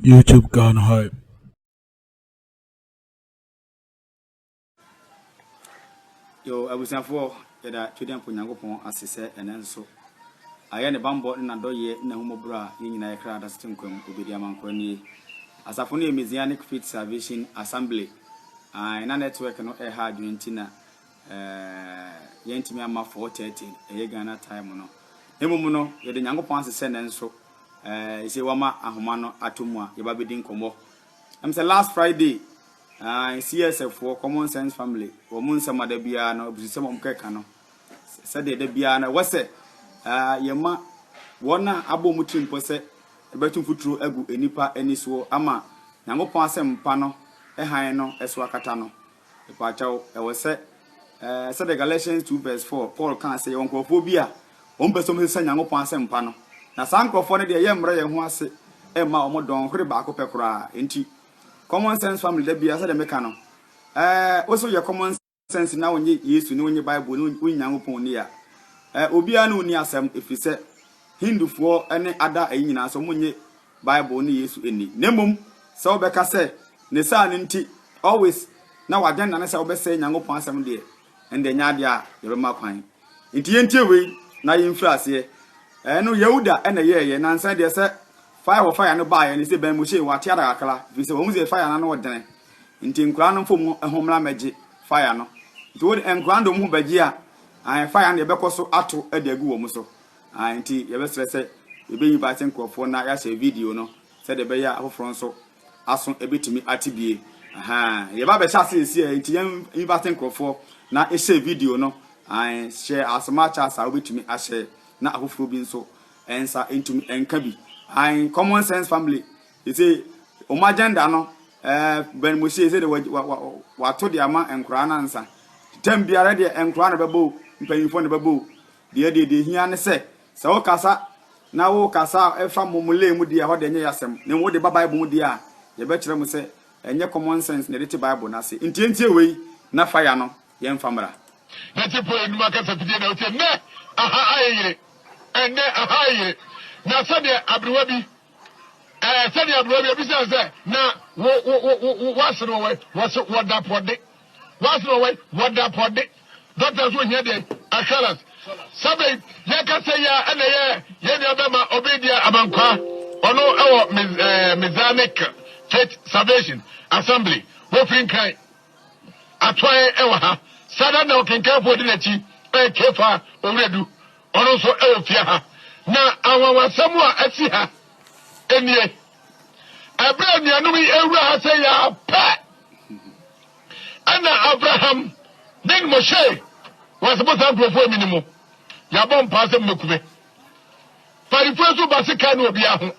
YouTube Ghana Hype. Yo, abusuafoɔ yɛda Twedeɛmpo Nyankopɔn ase sɛ ɛnɛ nso ayɛ ne bammɔ ne n'adɔyɛ ne n'ahummɔborɔ a yɛn nyinaa yɛkra da so te nkwa mu obedi ama nkwa nie. Asafo no yɛ Messianic Faith Salvation Assembly. Ae, na network no ɛha adwene nti na Ɛɛɛɛ yɛntumi amma 4:30 ɛyɛ Ghana time no. Na mmom no, yɛda Nyankopɔn ase sɛ nanso ɛɛɛ ese wama ahoma no ato mu a yɛba bedi nkɔmmɔ. Ɛm sɛ last Friday, ɛɛɛ CSF foɔ, Common Sense Family, wɔn nsɛm a da biara no, abususɛm a wɔkɛka no, sɛdeɛ da biara no ɛwɔ sɛ ɛɛɛ yɛma wɔn a abɔ wɔn tirim pɔ sɛ ɛbɛto mfuturo agu nnipa ani soɔ ama Nyankopɔn asɛmpa no hann no so akata no. Mepakyɛw, ɛwɔ sɛ, ɛɛ, sɛdeɛ Galatians two verse four, Paul kaa sɛ, yɛwɔ nkorɔfoɔ bi a, wɔn pɛ sɛ wɔn sesa Nyankopɔn asɛmpa no, na saa nkorɔfoɔ no deɛ, yɛmmerɛ yɛn ho ase mma wɔn dɔn hwere baako pɛ koraa. Enti, common sense family da biara, sɛdeɛ meka no, ɛɛ, wo sɛ woyɛ common sense na wonye Yesu ne wonye Bible ne wonye Nyankopɔn nni a, ɛɛ, obiara ne wo nni asɛm, ɛfiri sɛ, Hindufoɔ ne Ada ayi nyinaa nso, wɔnye. Bible ne Yesu nni, na mmom sɛ wobɛka sɛ ne saa no nti always na w'agenda ne sɛ wobɛsɛe Nyankopɔn asɛm deɛ, ɛnde ɛnyɛ adeɛ a yɛbɛma kwan. Nti yɛntie wei na yɛmfiri aseɛ. Ɛno Yehuda na ɛyɛɛyɛ, nansa deɛ sɛ fire for fire no baeɛ no, sɛ Ben Moshe wɔate ada kakra, ɛfiri sɛ wɔahu sɛ fire no ano dene, nti nkoraa no mfa wɔn ho mmra mmɛgye fire no. Nti wode nkoraa no de wɔn ho bɛgye a, ae fire no deɛ ɛbɛkɔ so ato de agu wɔn so. a enti yɛbɛsrɛ sɛ yɛbɛyi Baase nkurɔfoɔ na yɛahyɛ video no sɛdeɛ ɛbɛyɛ a afoforɔ nso aso bɛtumi ate bie. Ahaa, yɛba bɛhyɛ ase ɛsi a enti yɛnyi Baase nkurɔfoɔ na yɛhyɛ video no. Ae, hyɛ asoma akyɛ asa a wobɛtumi ahyɛ na afoforɔ bi nso nsa ntumi nka bi. Ae, common sense family, ɛsɛ wɔn agenda no eh, Ben Moshie ɛsɛ deɛ wato deɛ ama nkoraa no ansa. Tɛm biara deɛ nkoraa na bɛbɔ o, mpanyinfoɔ na bɛbɔ o. Deɛ deɛ deɛ ehia ne sɛ, sɛ wokasa na wokasa a ɛfa mɔmɔlɛɛ mu deɛ a, ɛhɔ deɛ ɛnyɛ yasɛm. Na mmom wode ba Bible mu deɛ a, yɛbɛkyerɛ mo sɛ ɛnyɛ common sense na yɛde te Bible no ase. Nti yɛntie wei na fire no yɛmfa mmra. Na tipo enum akasa fidie na wotie nnɛ aha ayɛ yere ɛnnɛ aha ayɛ yere na sɛdeɛ aberewa bi ɛɛ sɛdeɛ aberewa bi ebisa sɛ na wo wo wo wo wo asene wɔ wɔ se wɔ dapɔ de. Wasra wai wɔda pɔde doctor so ohia deɛ ahalas sɛbɛn yɛkasa yi a ɛna yɛ yɛn nua bɛma obi deɛ abankwaa ɔno ɛwɔ Mizanic Faith Salvation Assembly wɔfiri nkran atoae ɛwɔ ha sada na ɔkenkanfo ɔdi n'akyi ɛyɛ kefa owuradu ɔno nso ɛwɔ fie ha na anwanwasɛm a asi ha ɛnie ɛberɛ anuanom yi ɛwura ha sɛ yɛ apɛ Ɛna Abraham ne Moshe wɔ se mo saa nkurɔfoɔ mini mo, yɛabɔ mpaa sɛ mobeku me. Farifoɔ nso ba se kae no wɔ biaa ho,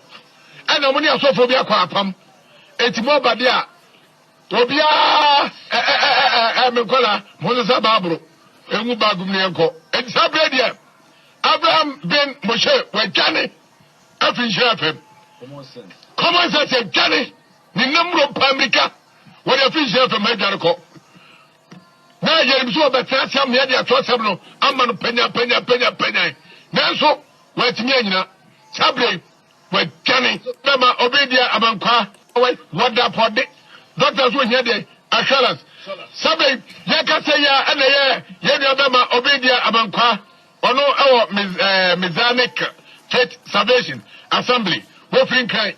ɛna mo ne asɔfoɔ bi akɔ apam, enti mo aba de a, wɔ biaa ɛ ɛ ɛ ɛ ɛ me nkɔlaa, monsesa Baabolo ngu bag mu na yɛnkɔ. Enti saa berɛ deɛ Abraham ben Moshe, wɔadwane afiri nhyira fam. Common sense, yɛadwane Ne nna mmuro paa mmirika wɔde afi nhyiam fam ha adware kɔ. Na yɛnim sɛ wɔbɛtena ase ama yɛde atwerɛsɛm no ama no panyanpanyanpanyanpanyan. Nanso wɔatumi anyina. Saa berɛ yi, wɔadwane. Bɛma obi deɛ amankwaa. Wai, wɔda pɔde. Dɔkta nso ohia deɛ assurance. Saa berɛ yi, yɛka sɛ yɛ a ɛna ɛyɛ yɛn nua bɛma obi deɛ amankwaa. Ɔno wɔ Messianic Faith Salvation Assembly. Wɔfiri Nkran.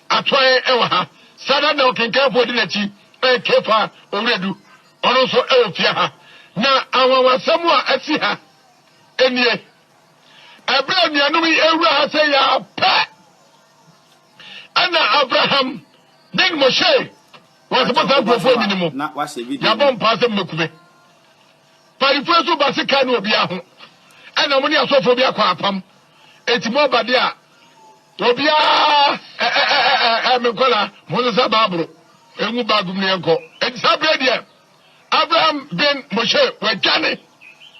Atɔe wɔ ha. Saa da no na ɔkenkanfo a odi n'akyi yɛ Kefa Owuradu, ɔno nso wɔ fie ha. Na anwanwasɛm a asi ha nie, Bere a anuanom yi rewura ha sɛɛ yi ara pɛ na Abraham ne Moshe wɔn ase bɔ saa nkurɔfoɔ yi mu. Yɛabɔ mpaa sɛ mommɛku me. Parifo nso ba se kane obia ho ɛna mo ne asɔfoɔ bi akɔ apam eti mo aba de a obia ɛɛɛɛɛɛ me nkɔla mo nsesa baaboro engu baagum ne yɛnkɔ eti saa berɛ deɛ Abraham ben Moshe wadwane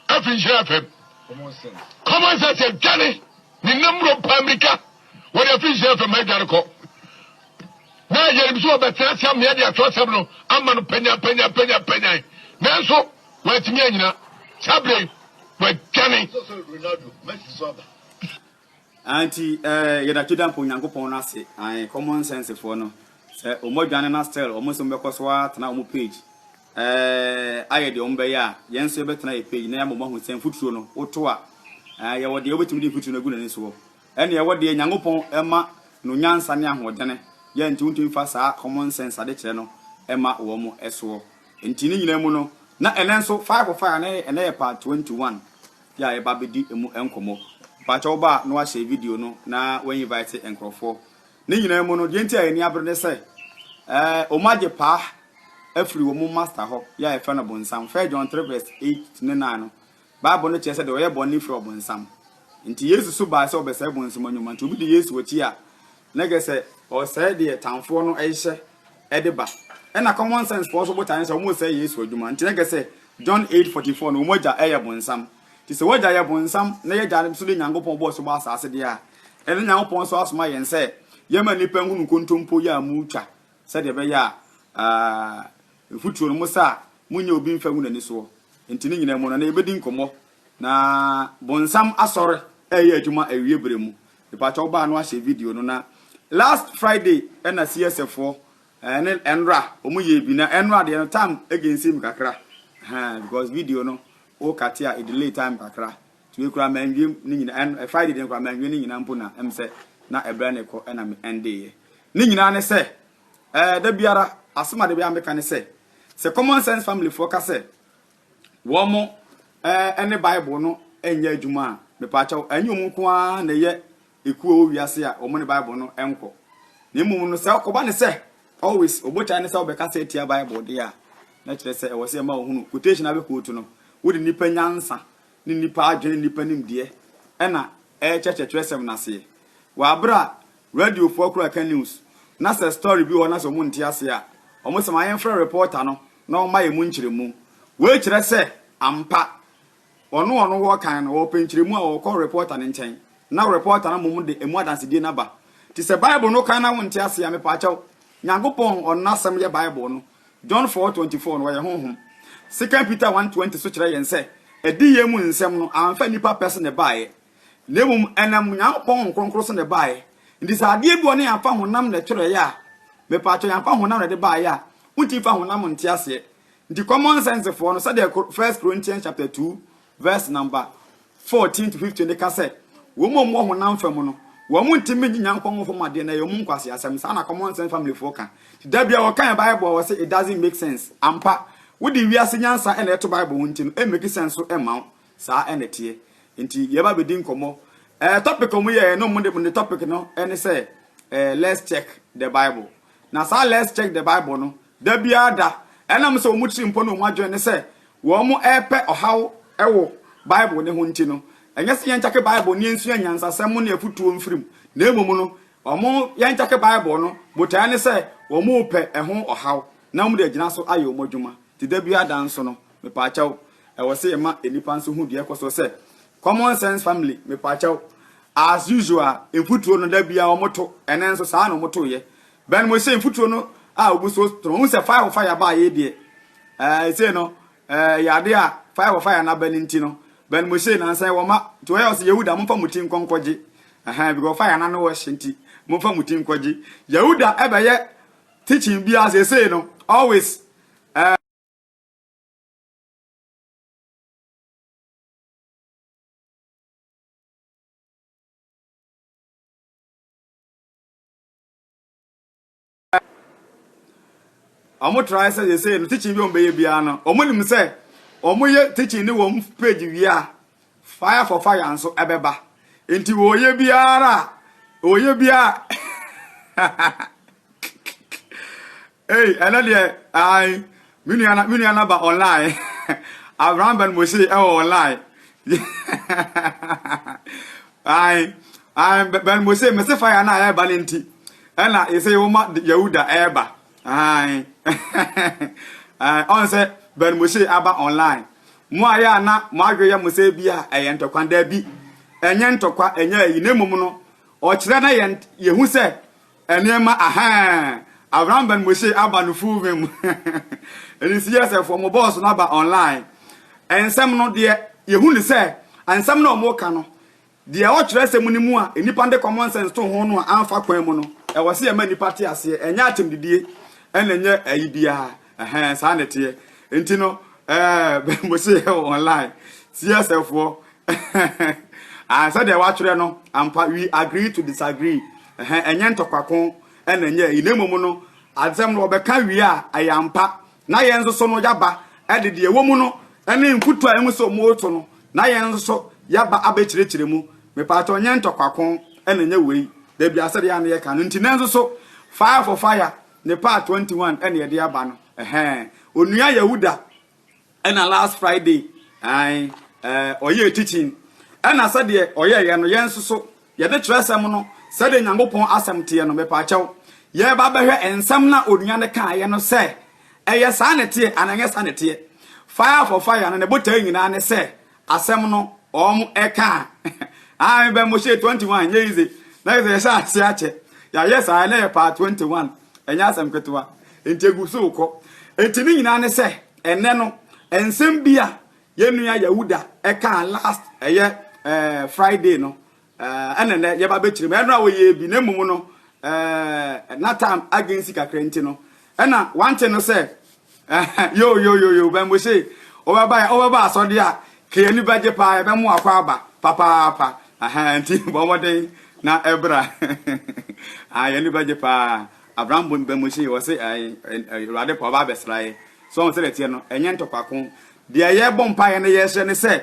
afiri nhyira fam common sense adwane ne nam mmuro paa mmirika wɔde afiri nhyira fam ha adwane kɔ Na yɛnim sɛ wɔbɛtena ase ammea de atorɔsɛm no ama no panyanpanyanpanyanpanyan, nanso wɔantumi annyina. Saa berɛ yi, wɔadwane. Anti eh, yɛda Tweda mpo Nyankopɔn no ase, ae, common sense foɔ no, sɛ ɔmo adwane na still ɔmo se ɔmo bɛkɔ so atena ɔmo page eh, ayɛ deɛ ɔmo bɛyɛ a, yɛn nso yɛbɛtena yɛ page na yɛama ɔmo ahu sɛ mfuturo no, woto a, eh, yɛwɔ deɛ wobɛtumi de mfuturo no agu n'ani soɔ. Ɛnneɛ wo deɛ Nyankopɔn ma no nyansa ne ahoɔdene yɛ nti wontumi mfa saa common sense adekyerɛ no mma wɔn soɔ. Nti ne nyinaa mu no na ɛnnɛ nso fire for fire ne ɛnnɛ yɛ part twenty one yɛ a yɛba abɛdi ɛmu nkɔmmɔ. Mpakyɛ wo ba a na wahyɛ video no na wa invite nkorɔfoɔ. Ne nyinaa mu no deɛ nti a yɛn ani abere ne sɛ ɛɛ wɔn agye paa afiri wɔn master hɔ yɛ a yɛfrɛ no bonsam, First John three verse eight ne nine no Bible no kyerɛ sɛ deɛ ɔyɛ bɔne firi ɔbonsam. Nti Yesu so baa sɛ ɔbɛsɛe bonsam anwuma. Nti obi di Yesu akyi a, na kyerɛ sɛ ɔresɛe deɛ tamfoɔ no rehyɛ de ba. Ɛna common sense foɔ nso botaeɛ ne sɛ wɔresɛe Yesu adwuma. Nti na kyerɛ sɛ John eight forty four no wɔn agya yɛ bonsam. Nti sɛ w'agya yɛ bonsam na y'agya nso de Nyankopɔn bɔɔ so bɔɔ asaase deɛ a, ɛnde Nyankopɔn nso asoma yɛn sɛ yɛmma nnipa nhunu nkontompo yi a motwa sɛdeɛ ɛbɛyɛ a Mfuturo no, mo saa, monyɛ obi mfa ngu n'ani soɔ. Enti ne nyinaa mu no, na yɛbɛdi nkɔmmɔ. Na bonsam asɔre reyɛ adwuma awie berɛ mu. Mepakyɛ wo baa no ahyɛ video no na last Friday na CSF foɔ ne Enra wɔn yɛɛ bi na Enra deɛ no time against me kakra ɛhɛn because video no wo kate a delay time kakra to yɛ kura manwie ne nyina ɛn Friday deɛ kura manwie ne nyina mpo na ɛm sɛ na ɛbrɛ ne kɔ ɛna me ɛnde yɛ ne nyina ne sɛ Ɛɛ, da biara, asɛm a da biara meka ne sɛ, sɛ Common Sense Familyfoɔ ka sɛ wɔn ne Bible no nyɛ adwuma a, mepaakyɛw, ɛnyɛ wɔn nko ara na ɛyɛ ekuo a ɛwɔ wiase a wɔn ne Bible no nkɔ. Na mmom no, sɛ ɔkɔba ne sɛ, always, ɔbotae ne sɛ wobɛkasa atia Bible deɛ a, na kyerɛ sɛ ɛwɔ sɛ ɛma wɔhunu quotation a bɛkootu no, wode nnipa nyansa ne nnipa adwene ne nnipa nimdeɛ ɛna ɛrekyerɛkyerɛ twerɛsɛm no aseɛ. Wɔ abere a Radio foɔ kura ka news na sɛ story bi wɔ hɔ na sɛ ɔmo nte aseɛ a ɔmo se ma yɛn frɛ reporter no na ɔmma yɛn mu nkyerɛmu. Wei kyerɛ sɛ ampa ɔno ɔno wɔ kan no ɔpɛ nkyerɛmu a ɔkɔ reporter no nkyɛn na reporter no mmom de ɛmu adansedie no aba. Nti sɛ bible no kan na wo nte aseɛ a mepaakyɛw Nyankopɔn ɔno n'asɛm yɛ bible no John four twenty four no ɔyɛ honhom. Second Peter one twenty so kyerɛ yɛn sɛ adiyie mu nsɛm no amfa nnipa pɛ so na ɛbaeɛ. na mmom ɛnam Onyankopɔn Honhom Kronkron so na ɛbaeɛ. Nti sɛ adeɛ bi wɔ hɔ na yɛamfa honam na ɛtwerɛeɛ a, mepaakyɛw yɛamfa honam na ɛde baeɛ a, wontumi mfa honam nte aseɛ. Nti common sense foɔ no, sɛdeɛ First Corinthians chapter 2 verse number 14 to 15 de ka sɛ, wɔn a wɔwɔ honam fa mu no, wɔn ntumi nye Nyankopɔn Honhom fam adeɛ na ɛyɛ wɔn nkwaseasɛm. Saa na common sense family foɔ ka. Nti da biara wɔkan Bible a wɔse it doesn't make sense. Ampa, wode wiase nyansa na ɛto Bible ho nti no, ɛmmake sense so mma wo. Saa na ɛteɛ. Nti yɛba bɛdi nkɔmmɔ. Eh, topic a wɔyɛɛ no, wɔde wɔde topic no ne sɛ eh, let's check the Bible. Na saa let's check the Bible no, da biara da, ɛnam sɛ wɔn tirimpɔ ne wɔn adwene ne sɛ wɔrepɛ ɔhaw wɔ Bible no ho nti no, ɛnyɛ sɛ yɛnkyake Bible ne yɛnsua nyansasɛm ne afotuo mfiri mu, na mmom no, wɔn yɛnkyake Bible no botaeɛ ne sɛ wɔrepɛ ɛho ɔhaw na wɔde agyina so ayɛ wɔn adwuma. Nti da biara da nso no, Mepaakyɛw, ɛwɔ sɛ yɛma nnipa nso hu deɛ ɛkɔ soɔ sɛ, Common sense family, mepaakyɛw, as usual, mfuturo no da biara wɔto, ɛnɛ nso saa na wɔtoeɛ. Bɛn mo sɛ mfuturo no a wɔgu so to no, wohu sɛ fire for fire baa yei deɛ, ɛɛ, sei no, ɛɛ, yɛ adeɛ a fire for fire no aba no nti no, bɛn mo sei nansa yɛwɔ ma, nti wɔyɛ wɔ sɛ Yehuda, momfa mo ti nkɔ nkɔgye, ɛhɛn, because fire no ano wɔ hye nti, momfa mo ti nkɔgye. Yehuda ɛbɛyɛ teaching biara seesei no, always, ɛɛ. wɔn try sɛ yɛsɛ no teaching bi wɔn bɛyɛ biara no wɔn nim sɛ wɔn yɛ teaching ne wɔn page wia fire for fire nso ɛbɛba nti wɔyɛ biara wɔyɛ biara Ei ɛnɛ deɛ ae me nua na me nua na ba online Abraham Ben Mose ɛwɔ online ae ae Ben Mose mese fire na ɛba ne nti ɛna yɛsɛ yɛwoma Yahuda ɛba ae ae ɔnsɛ Ben Mose aba online mo a yɛ a na mo adwe yɛ mo sɛ bi a ɛyɛ ntɔkwa da bi ɛnyɛ ntɔkwa ɛnyɛ ayi na mmom no ɔkyerɛ na yɛn yɛhu sɛ Nneɛma ahaa abrambɛn mo se aba no full vim ɛne CSF fo mo boss no aba online nsɛm no deɛ yɛhu ne sɛ nsɛm no ɔmo ka no deɛ ɛwɔ twerɛsɛm no mu a nnipa nde common sense to ho no a amfa kwan mu no ɛwɔ se yɛma nnipa te aseɛ ɛnyɛ akyɛmdidie ɛna ɛnyɛ ayi biara Ɛhɛn, saa na ɛteɛ. Nti no, ɛɛ, Mose yɛ wɔ online, CSF foɔ, ah, sɛdeɛ watwerɛ no, ampa, we agree to disagree, ɛhɛn, ɛnyɛ ntɔkwako, ɛna ɛnyɛ ɛyi, na mmom no, asɛm no wɔbɛka wie a, ɛyɛ ampa, na yɛn nso so no, yaba, ɛde deɛ ɛwɔ mu no, ɛne mfutuo a ɛmu sɛ ɔmo reto no, na yɛn nso so, yaba abɛkyerɛkyerɛ mu, mepaakyɛ ɔnyɛ ntɔkwako, ɛna ɛnyɛ wei, dabi asɛdeɛ a na yɛka no, nti nanso so, fire for fire. Ne part twenty one ɛna yɛde aba no ɛhɛn onua Yehuda ɛna last Friday ae ɛɛ ɔyɛ teaching ɛna sɛdeɛ ɔyɛ yɛ no yɛn nso so yɛde kyerɛsɛm no sɛdeɛ Nyankopɔn asɛm teɛ no mepaakyɛw yɛreba bɛhwɛ nsɛm na onua no kaayɛ no sɛ ɛyɛ saa na ɛteɛ anaa ɛnyɛ saa na ɛteɛ fire for fire no ne botae nyinaa ne sɛ Asɛm no wɔn ɛka a aa me bɛ mo hyɛ 21 ɛnyɛ easy na yɛ sɛ yɛ hyɛ ase akyɛ yɛ ayɛ saa ɛnɛ yɛ part 21 ɛnyɛ asɛm ketewa nti egu so kɔ nti ne nyinaa ne sɛ ɛnɛ no nsɛm bi a yɛ nua Yahuda ɛka last ɛyɛ ɛɛ Friday no Eh, ɛna nɛ yɛba bɛkyerɛ mu. Ɛno a wɔyɛɛ bi, na mmom no, eh, na tam agen si kakra nti no, ɛna wante no sɛ, eh, yo, yo, yo, yo, bɛmbo se, wobɛba, wobɛba asɔde a, ka yɛni bɛgye paa, yɛbɛmo akɔ aba, papaapa, aha, nti bɔ mmɔden na ɛbra. ah, yɛni bɛgye paa. Abraham bɛmbo se, wɔ se, eh, eh, Awurade pa, ɔba abɛsra yɛ. So wɔn sɛ dɛteɛ no, ɛnyɛ ntɔkwako. Deɛ yɛbɔ mpaeɛ no yɛhyɛ ne sɛ,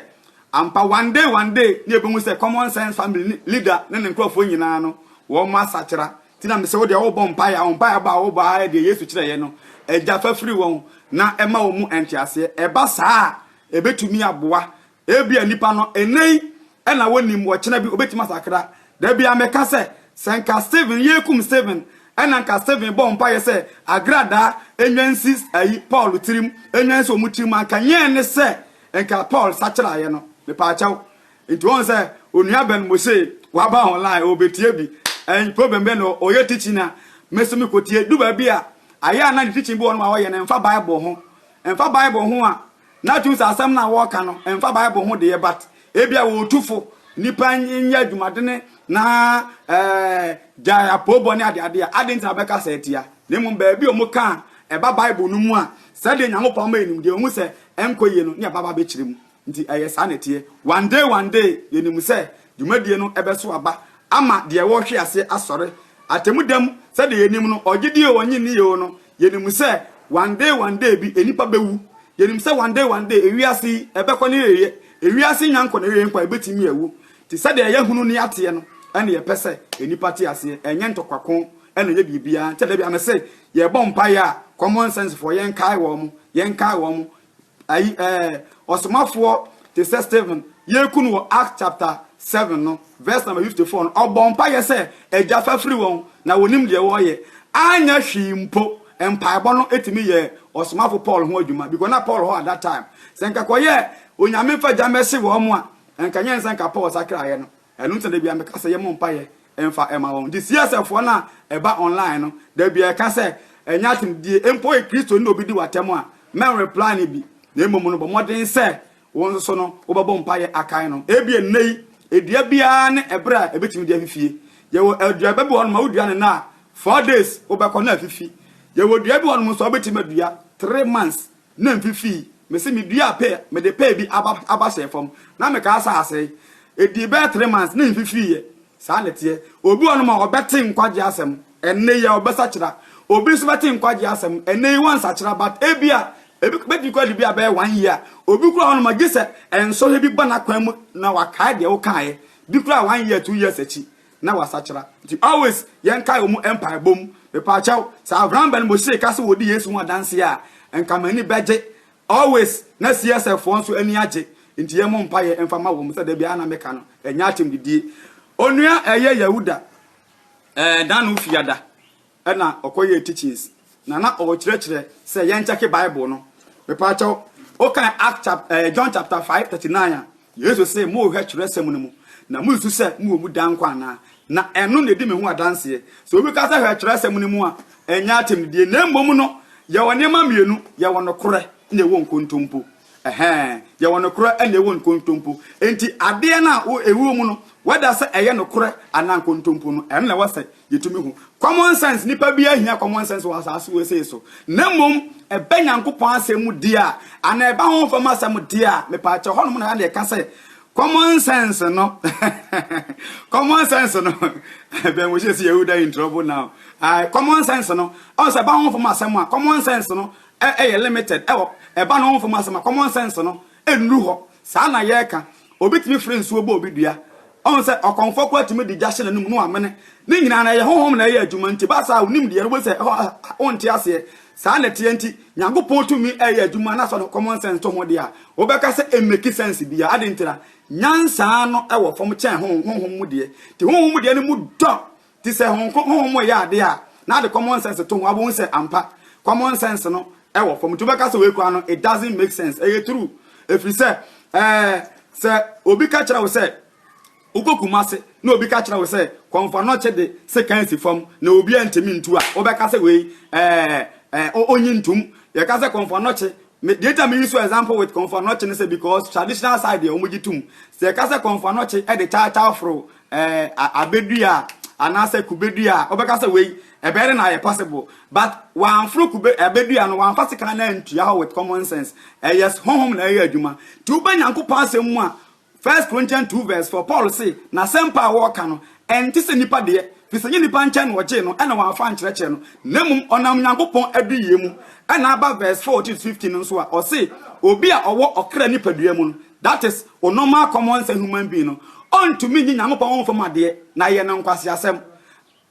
Ampa, one day one day ne yɛbɛhu sɛ Common Sense Family ne leader ne ne nkorɔfoɔ nyinaa no, wɔn asakyera. Nti na mesɛ wo deɛ wobɔ mpaeɛ a, wo mpaeɛbɔ a wobɔ ara yɛ deɛ Yesu kyerɛeɛ no, Agya fa firi wɔn na ma wɔn mu nteaseɛ. Ɛba saa a, ɛbɛtumi aboa. Ebia nnipa no, ɛnnɛ yi na wɔnnim, ɔkyena bi wɔbɛtumi asakra. Da biara meka sɛ, sɛ nka Stephen, yɛrekum Stephen, ɛna nka Stephen bɔɔ mpaeɛ sɛ agradaa nnwa nsi ayi Paul tirim, nnwa nsi wɔn tirim a, nka nyɛɛ ne sɛ Nka Paul sakyerayɛ no mepaakyɛw. Nti wɔn sɛ onua Ben Mose waba online ɔbɛtie bi ɛn problem bɛ na ɔyɛ teaching na mɛso me kɔtie du baabi a ayɛ a na ne teaching bi wɔn ma ɔyɛ no ɛnfa bible ho ɛnfa bible ho a na tum sɛ asɛm na wɔka no ɛnfa bible ho deɛ but ebi a wɔtufo nipa nyɛ adwumadene na ɛɛ gyae apoobɔ ne adeade a ade ntina bɛka sɛ atia na mmom baabi a wɔn ka ɛba bible no mu a sɛdeɛ nyankopɔn ma enimdeɛ wɔn sɛ ɛnkɔ yie no ne ɛba aba bɛkyerɛ mu nti ɛyɛ saa na ɛteɛ one day one day yɛnim sɛ dwumadie no ɛbɛso aba ama deɛ ɛwɔ hwe aseɛ asɔre atɛmu dam sɛdeɛ yɛnim no ɔgye die o ɔnye nni yɛo no yɛnim sɛ one day one day bi nnipa bɛwu yɛnim sɛ one day one day ewiase yi ɛbɛkɔ ne yɛyɛ ewiase nya nkɔ ne yɛyɛ nkɔ ɛbɛtumi awu nti sɛdeɛ ɛyɛ hunu ne ateɛ no ɛne yɛpɛ sɛ nnipa te aseɛ ɛnyɛ ntɔkwako ɛna yɛ biribiara nti da bi amese Yɛbɔ mpaeɛ a, common sense foɔ, yɛnkae wɔn, yɛnkae wɔn. Ayi ɛɛ, ɔsomafoɔ te sɛ Stephen, yɛku no wɔ Acts chapter seven no, verse number fifty four no, ɔbɔɔ mpaeɛ sɛ, Agya, fa firi wɔn, na wɔnnim deɛ wɔreyɛ. Anyɛ hwee mpo, mpaebɔ no tumi yɛɛ ɔsomafo Paul ho adwuma, because na Paul hɔ at that time. Sɛ nka kɔyɛɛ, Onyame fa gya mmɛhye wɔn a, nka nyɛ nsɛ nka Paul sakraeɛ no. Ɛno nti na da biara meka sɛ yɛmmɔ mpaeɛ mfa mma wɔn. Nti CSFfoɔ no a ɛba online no, da biara ɛka sɛ ɛnyɛ asɛmdidie, mpo woyɛ Kristoni na obi di wo atɛm a, mɛnreply no bi, na mmom no bɔ mmɔden sɛ wo nso so no wobɛbɔ mpaeɛ akae no. Ebia nnɛ yi, dua biara ne ɛberɛ a ɛbɛtumi de afifie. Yɛwɔ aduaba bi wɔ hɔnom a wodua no nnɛ a, four days wobɛkɔ na afifi. Yɛwɔ dua bi wɔ hɔnom nso a wobɛtumi adua three months na mfifii, mese meduaa pear, mede pear bi aba aba hyɛɛ fam, na mekaa sɛ asɛe. Edii bɛyɛ three months na mfifiiɛ. Saa na ɛteɛ. Obi wɔ hɔnom a ɔbɛte nkwagyeɛ asɛm, ɛnnɛ yi ara ɔbɛsakyera. Obi nso bɛte nkwagyeɛ asɛm, ɛnnɛ yi wansakyera, but ebia ebi bɛtumi koraa de bi abɛyɛ one year. Obi koraa wɔ hɔnom a gye sɛ nsɔhwɛ bi ba n'akwan mu na wakae deɛ wokaeɛ, bi koraa one year, two years akyi. na wasakyera. Nti always yɛnkae ɔmo mpaebɔ mu. Mepaakyɛw, sɛ Avram Ben Moshie ka sɛ ɔdi Yesu ho adanseɛ a, nka m'ani bɛgye. Always na CSF foɔ nso ani agye. Nti yɛmmɔ mpaeɛ mfa ma wɔn sɛdeɛ biara na meka no, ɛnyɛ atemdidie. Onua ɛyɛ Yahuda, ɛɛ Dano Fiada. na ɔkɔyɛɛ teachings na na ɔrekyerɛkyerɛ sɛ yɛnkyɛke Bible no. Mepa kyɛw, wokan Act chap eh, John chapter 5 39 a, Yesu se, Morehwɛ twerɛsɛm no mu, na mususu sɛ mowɔ mu daa nkwa anaa? Na ɛno na ɛdi me ho adanseɛ. Sɛ obi ka sɛ hwɛ twerɛsɛm no mu a, ɛnyɛ atɛmdidie, na mmom no, yɛwɔ nneɛma mmienu, yɛwɔ nokorɛ na yɛwɔ nkontompo. Ɛhɛɛ. Yɛwɔ nokorɛ na yɛwɔ nkontompo. Enti adeɛ no a wo, ɛwɔ mu no, whether sɛ ɛyɛ nokorɛ anaa nkontompo no, ɛno na ɛwɔ sɛ yɛtumi hu. Common sense, nnipa biara nhia common sense wɔ asaase wesee so. Na mmom, ɛba Nyankopɔn asɛm mu deɛ a, anaa ɛba honhom fam asɛm deɛ a, mepaakyɛw, hɔnom na na yɛka sɛ, common sense no, common sense no, Ben Moshe se Yehuda in trouble now, aye, common sense no, ɔn sɛ ɛba honhom fam asɛm a, common sense no, ɛ yɛ limited ɛ wɔ ɛ ba ne ho fam asɛm a common sense no ɛ nnuru hɔ saa na yɛ ka obi tumi fre nsuo bɔ obi dua ɔ hu sɛ ɔkɔmfoɔ koraa tumi de gya hyɛ n'anum na w'amene ne nyinaa no ɛ yɛ honhom na ɛ yɛ adwuma nti ba saa wonim deɛ no wobɛhu sɛ ɛ hɔ wo nte aseɛ saa na ɛteɛ nti Nyankopɔn tumi ɛ yɛ adwuma na sɛ ɔde common sense to ho deɛ a wo bɛ ka sɛ ɛ make sense biaa adɛn nti na nyansa no ɛ wɔ fam kyɛn honhom mu deɛ nti honhom mu deɛ no mu dɔ te sɛ honko, honhom mu yɛ ade a, na ade common sense to ho, abɛhu sɛ ampa, common sense no wɔ fam. Nti wobɛka sɛ wei koraa no, it doesn't make sense. Ɛyɛ true. Ɛfiri sɛ, eh, sɛ obi ka kyerɛ wo sɛ, wokɔ Kumase, na obi ka kyerɛ wo sɛ, kɔmfa nɔkye de sekan si fam, na obi antumi ntu a, wobɛka sɛ wei, eh, eh, onyi ntum. Yɛka sɛ kɔmfa nɔkye, me, deɛ nti a me use example with kɔmfa nɔkye no sɛ, because traditional side deɛ wɔgye tum. Sɛ yɛka sɛ kɔmfa nɔkye de kyaakyaa foro eh, abedua anaasɛ kubedua a wobɛka sɛ wei ɛbɛyɛ dɛ na ayɛ possible but wɔamforo kube abedua no wɔamfa sekan no antua hɔ with common sense ɛyɛ honhom na ɛyɛ adwuma nti woba nyankopɔn asɛm mu a first corinthians 2 verse 4 paul se n'asɛmpa a wɔreka no ɛnte sɛ nnipa deɛ firi sɛ nyɛ nnipa nkyɛn na ɔgyee no ɛna wɔamfa nkyerɛkyerɛ no na mmom ɔnam nyankopɔn aduyie mu ɛna aba verse 4 to 15 no nso a ɔse obi a ɔwɔ ɔkra nipadua mu no that is, wo normal common sense human being no, ɔntumi nye Nyankopɔn honfam adeɛ na ɛyɛ no nkwaseasɛm.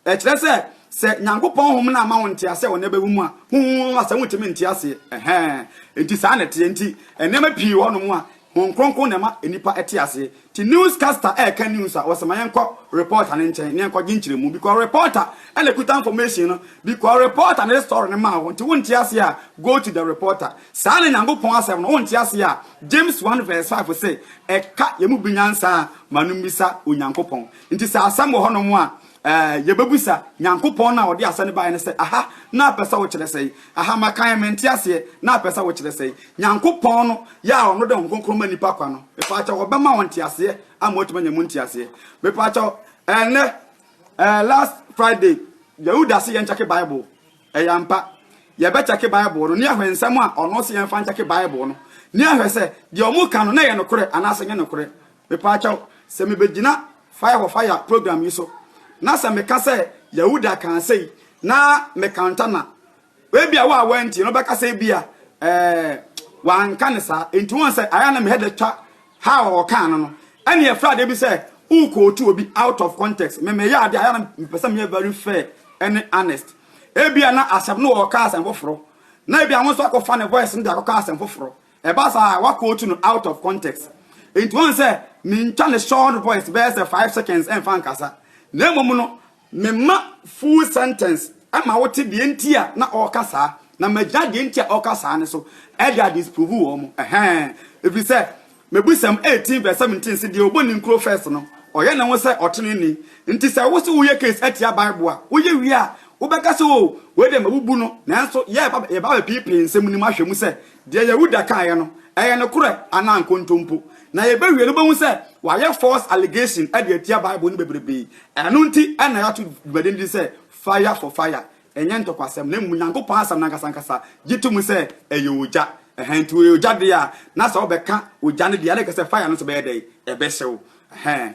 Ɛkyerɛ sɛ, sɛ Nyankopɔn honhom no amma wo ntease a wo nne bɛwɔ mu a, honhom asɛm wontumi nte aseɛ. Ɛhɛɛ, enti saa na ɛteɛ. Enti, nneɛma pii wɔ hɔnom a, Honhom Kronkron na ɛma nnipa te aseɛ. Nti news caster ɛreka news a, ɔse ma yɛnkɔ reporter no nkyɛn na yɛnkɔgye nkyerɛmu because reporter na ɛkuta information no, because reporter na ɛde story no maa wo. Nti wonte aseɛ a, go to the reporter. Saa na Nyankopɔn asɛm no, wonte aseɛ a, James one verse five se, ɛka yɛn mu bi nyansa a, ma no mmisa Onyankopɔn. Nti sɛ asɛm wɔ hɔnom a, eh, yɛbɛbisa Nyankopɔn no a ɔde asɛm no baeɛ no sɛ, Aha, na apɛ sɛ wokyerɛ sɛn? Aha, makan, mente aseɛ, na apɛ sɛ wokyerɛ sɛn? Nyankopɔn no, yɛ a ɔno de Honhom Kronkron ma nnipa kwa no, mepaakyɛw, ɔbɛma wɔn nteaseɛ ama wɔatumi anya mu nteaseɛ. Mepaakyɛw, ɛnnɛ, eh, last Friday, yɛwo dase yɛnkyɛke Bible. Ɛyɛ ampa. Yɛbɛkyɛke Bible no, ne ahwɛ nsɛm a ɔno se yɛmfa nkyɛke Bible no, ne ahwɛ sɛ deɛ wɔka no na ɛyɛ nokorɛ anaasɛ ɛnyɛ nokorɛ. Mepaakyɛw, sɛ mebɛgyina Fire for Fire program yi so, na sɛ meka sɛ Yahuda kaa sei, na mekanta no a, ebia wo a woantie no wobɛka sɛ ebia, ɛɛ, wanka no saa. Enti woahu sɛ, ayɛ a na me hɛ da twa How ɔkaa no no ɛne ɛfra adeɛ bi sɛ wo quote obi out of context. Me meyɛ adeɛ a ɛyɛ na mepɛ sɛ meyɛ very fair ɛne honest. Ebia na asɛm no ɔɔka asɛm foforɔ na ebia wo nso akɔ fa ne voice no de akɔka asɛm foforɔ. Ɛba saa a wa quote no out of context. Nti wɔn sɛ mentwa ne short voice bɛyɛ sɛ five seconds ɛnfa nkasa. Na mmom no Memma full sentence ma wote deɛ nti a na ɔreka saa, na magyina deɛ nti a ɔreka saa no so de a disprove wɔn. Ɛhɛn. Ɛfiri sɛ, Mebusɛm 18 vs 17 se, Deɛ ɔbɔ ne nkuro first no, ɔyɛ ne ho sɛ ɔtenenee. Nti sɛ wo se woyɛ case atia Bible a, woyɛ wie a, wobɛka sɛ, oh, wei deɛ mabubu no, nanso yɛreba abɛpeepee nsɛm no mu ahwɛ mu sɛ Deɛ Yehuda kaeɛ no, ɛyɛ nokorɛ anaa nkontompo? Na yɛbɛwie no wobɛhu sɛ wayɛ false allegation de atia Bible no bebrebe. Ɛno nti na yɛato dwumadi no din sɛ Fire for Fire. Ɛnyɛ ntɔkwasɛm, na mmom Onyankopɔn Asɛm no ankasankasa gye to mu sɛ ɛyɛ ogya. Ɛhɛn, nti ɔyɛ ogya deɛ a, na sɛ wobɛka ogya no deɛ a, na ɛka sɛ fire no nso bɛyɛ dɛn? Ɛbɛhyew. Ɛhɛn.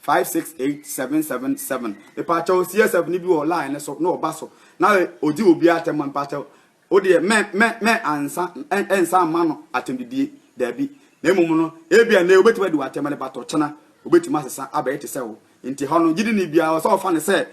Five six eight seven seven seven Mpakyɛw CSF ni bi wɔ line ne so na ɔba so na ɔdi obi atɛm a mpakyɛw wo deɛ mɛ mɛ mɛ ansa ɛnsa ama no atɛmdidie daabi na mmom no ebi a nɛ obetumi adi w'atɛm ne batɔ kyena obetumi asesa abɛyɛ te sɛ wo nti hɔ no gyidini biara ɔsɛ ɔfa ne sɛ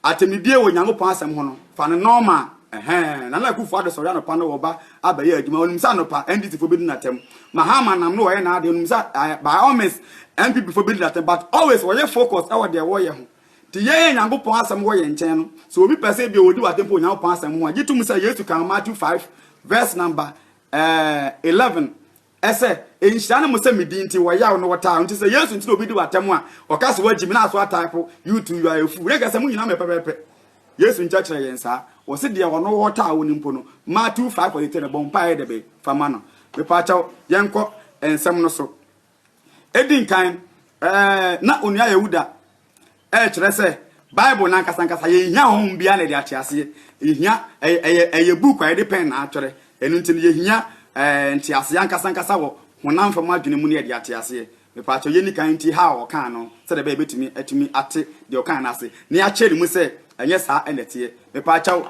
Atemidie wɔ Nyankopɔn asɛm ho no, fa no nɔɔma. Ɛhɛɛ, Nana Akufo-Addo sɔre anɔpa na wɔba abɛyɛ adwuma. Onim sɛ anɔpa, NDC foɔ bɛdi no atɛm. Mahama nam no wɔyɛ n'adeɛ. Onim sɛ, ɛɛ, by all means, NPP foɔ bɛdi no atɛm. But always, wɔyɛ focused wɔ deɛ wɔyɛ ho. Nti yɛn a Nyankopɔn asɛm wɔ yɛn nkyɛn no, sɛ obi pɛ sɛ ebia ɔdi wo atɛmpa wɔ Nyankopɔn asɛm ho a, gye tom sɛ Yesu kaa wɔ Matthew five, verse number, ɛɛ, eleven, Ɛsɛ, nhyira ne mo sɛ me din nti wɔyaw na wɔtaa wo nti sɛ Yesu nti na obi di wo atɛm a ɔka sɛ wagyi me na aso ataa po you too you are a fool na nka sɛ mo nyinaa mɛ pɛpɛpɛ Yesu nkyɛkyerɛ yɛn saa wɔse deɛ ɔno wɔ ɔtaa wo no mpo no ma two five forty three no bɔ mpaeɛ dɛ bɛn fa ma no mepaakyɛw yɛnkɔ nsɛm no so edi nkan ɛɛ na onua Yehuda Ɛkyerɛ sɛ Bible no ankasa ankasa yɛnhia honhom biara na ɛde ate aseɛ. Yɛhia ɛyɛ ɛyɛ book a yɛde pɛn na atwerɛ. Ɛno nti no yɛhia ɛɛ nteaseɛ ankasa ankasa wɔ honam fam adwene mu na yɛde ate aseɛ. Mepaakyɛ yɛnni kan nti ha a ɔkaa no sɛdeɛ ɛbɛyɛ bɛtumi atumi ate deɛ ɔkaa no ase na yɛakyɛ ne mu sɛ ɛnyɛ saa ɛna ɛteɛ. Mepaakyɛ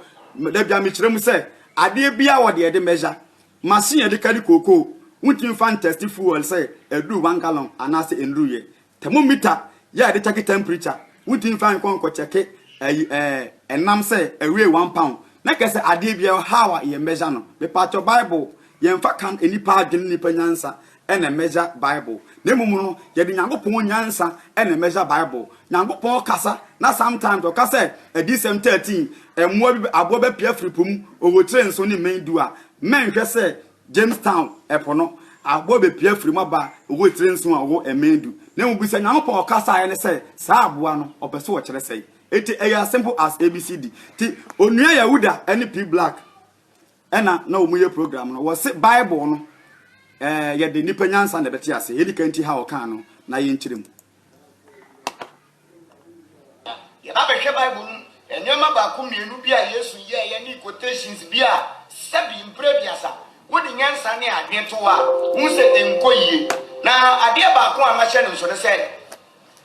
da bia mekyerɛ mu sɛ adeɛ biara wɔ deɛ yɛde measure. Machine yɛde kari kookoo wontumi fa ntɛsti fuel sɛ ɛduru one gallon anaasɛ ɛnduruiɛ. Thermometer yɛ a yɛde kyɛke temperature, wontumi mfa nkɔ nkɔ kyɛke ayi ɛɛ ɛnam sɛ ɛwee one pound na kɛ sɛ adeɛ bi ɛwɔ how a yɛ measure no. Mepatwɔ Bible yɛmfa kan nnipa adwene ne nnipa nyansa ɛna measure Bible na mmom no yɛde Nyankopɔn nyansa ɛna measure Bible. Nyankopɔn kasa na sometimes ɔka sɛ Adiyisɛm 13 mmoa bi aboa bɛpue afiri po mu ɔwɔ tire nson ne mmɛn du a mɛnhwɛ sɛ Jamestown, ɛpo no, aboa bepue afiri mu aba, owu tire nson a ɔwɔ mmɛn du. Na mmom bisa Nyankopɔn ɔkasaeɛ no sɛ, saa aboa no, ɔpɛ sɛ ɔkyerɛ sɛn? Enti ɛyɛ as simple as ABCD. Nti Onua Yahuda ne P. Black ɛna na wɔn yɛ program no, wɔse Bible no ɛɛ yɛde nnipa nyansa na ɛbɛte aseɛ, yɛn nika nti ha ɔkaa no na yɛnkyerɛ mu. Ná yɛba bɛhwɛ Bible no mu nneɛma baako mmienu bi a Yesu yɛeɛ ne quotations bi a sɛbi mprɛ aduasa wode nyansa ne adwene to a, wohu sɛ ɛnkɔ yie. Na adeɛ baako a mahyɛ no nso ne sɛ,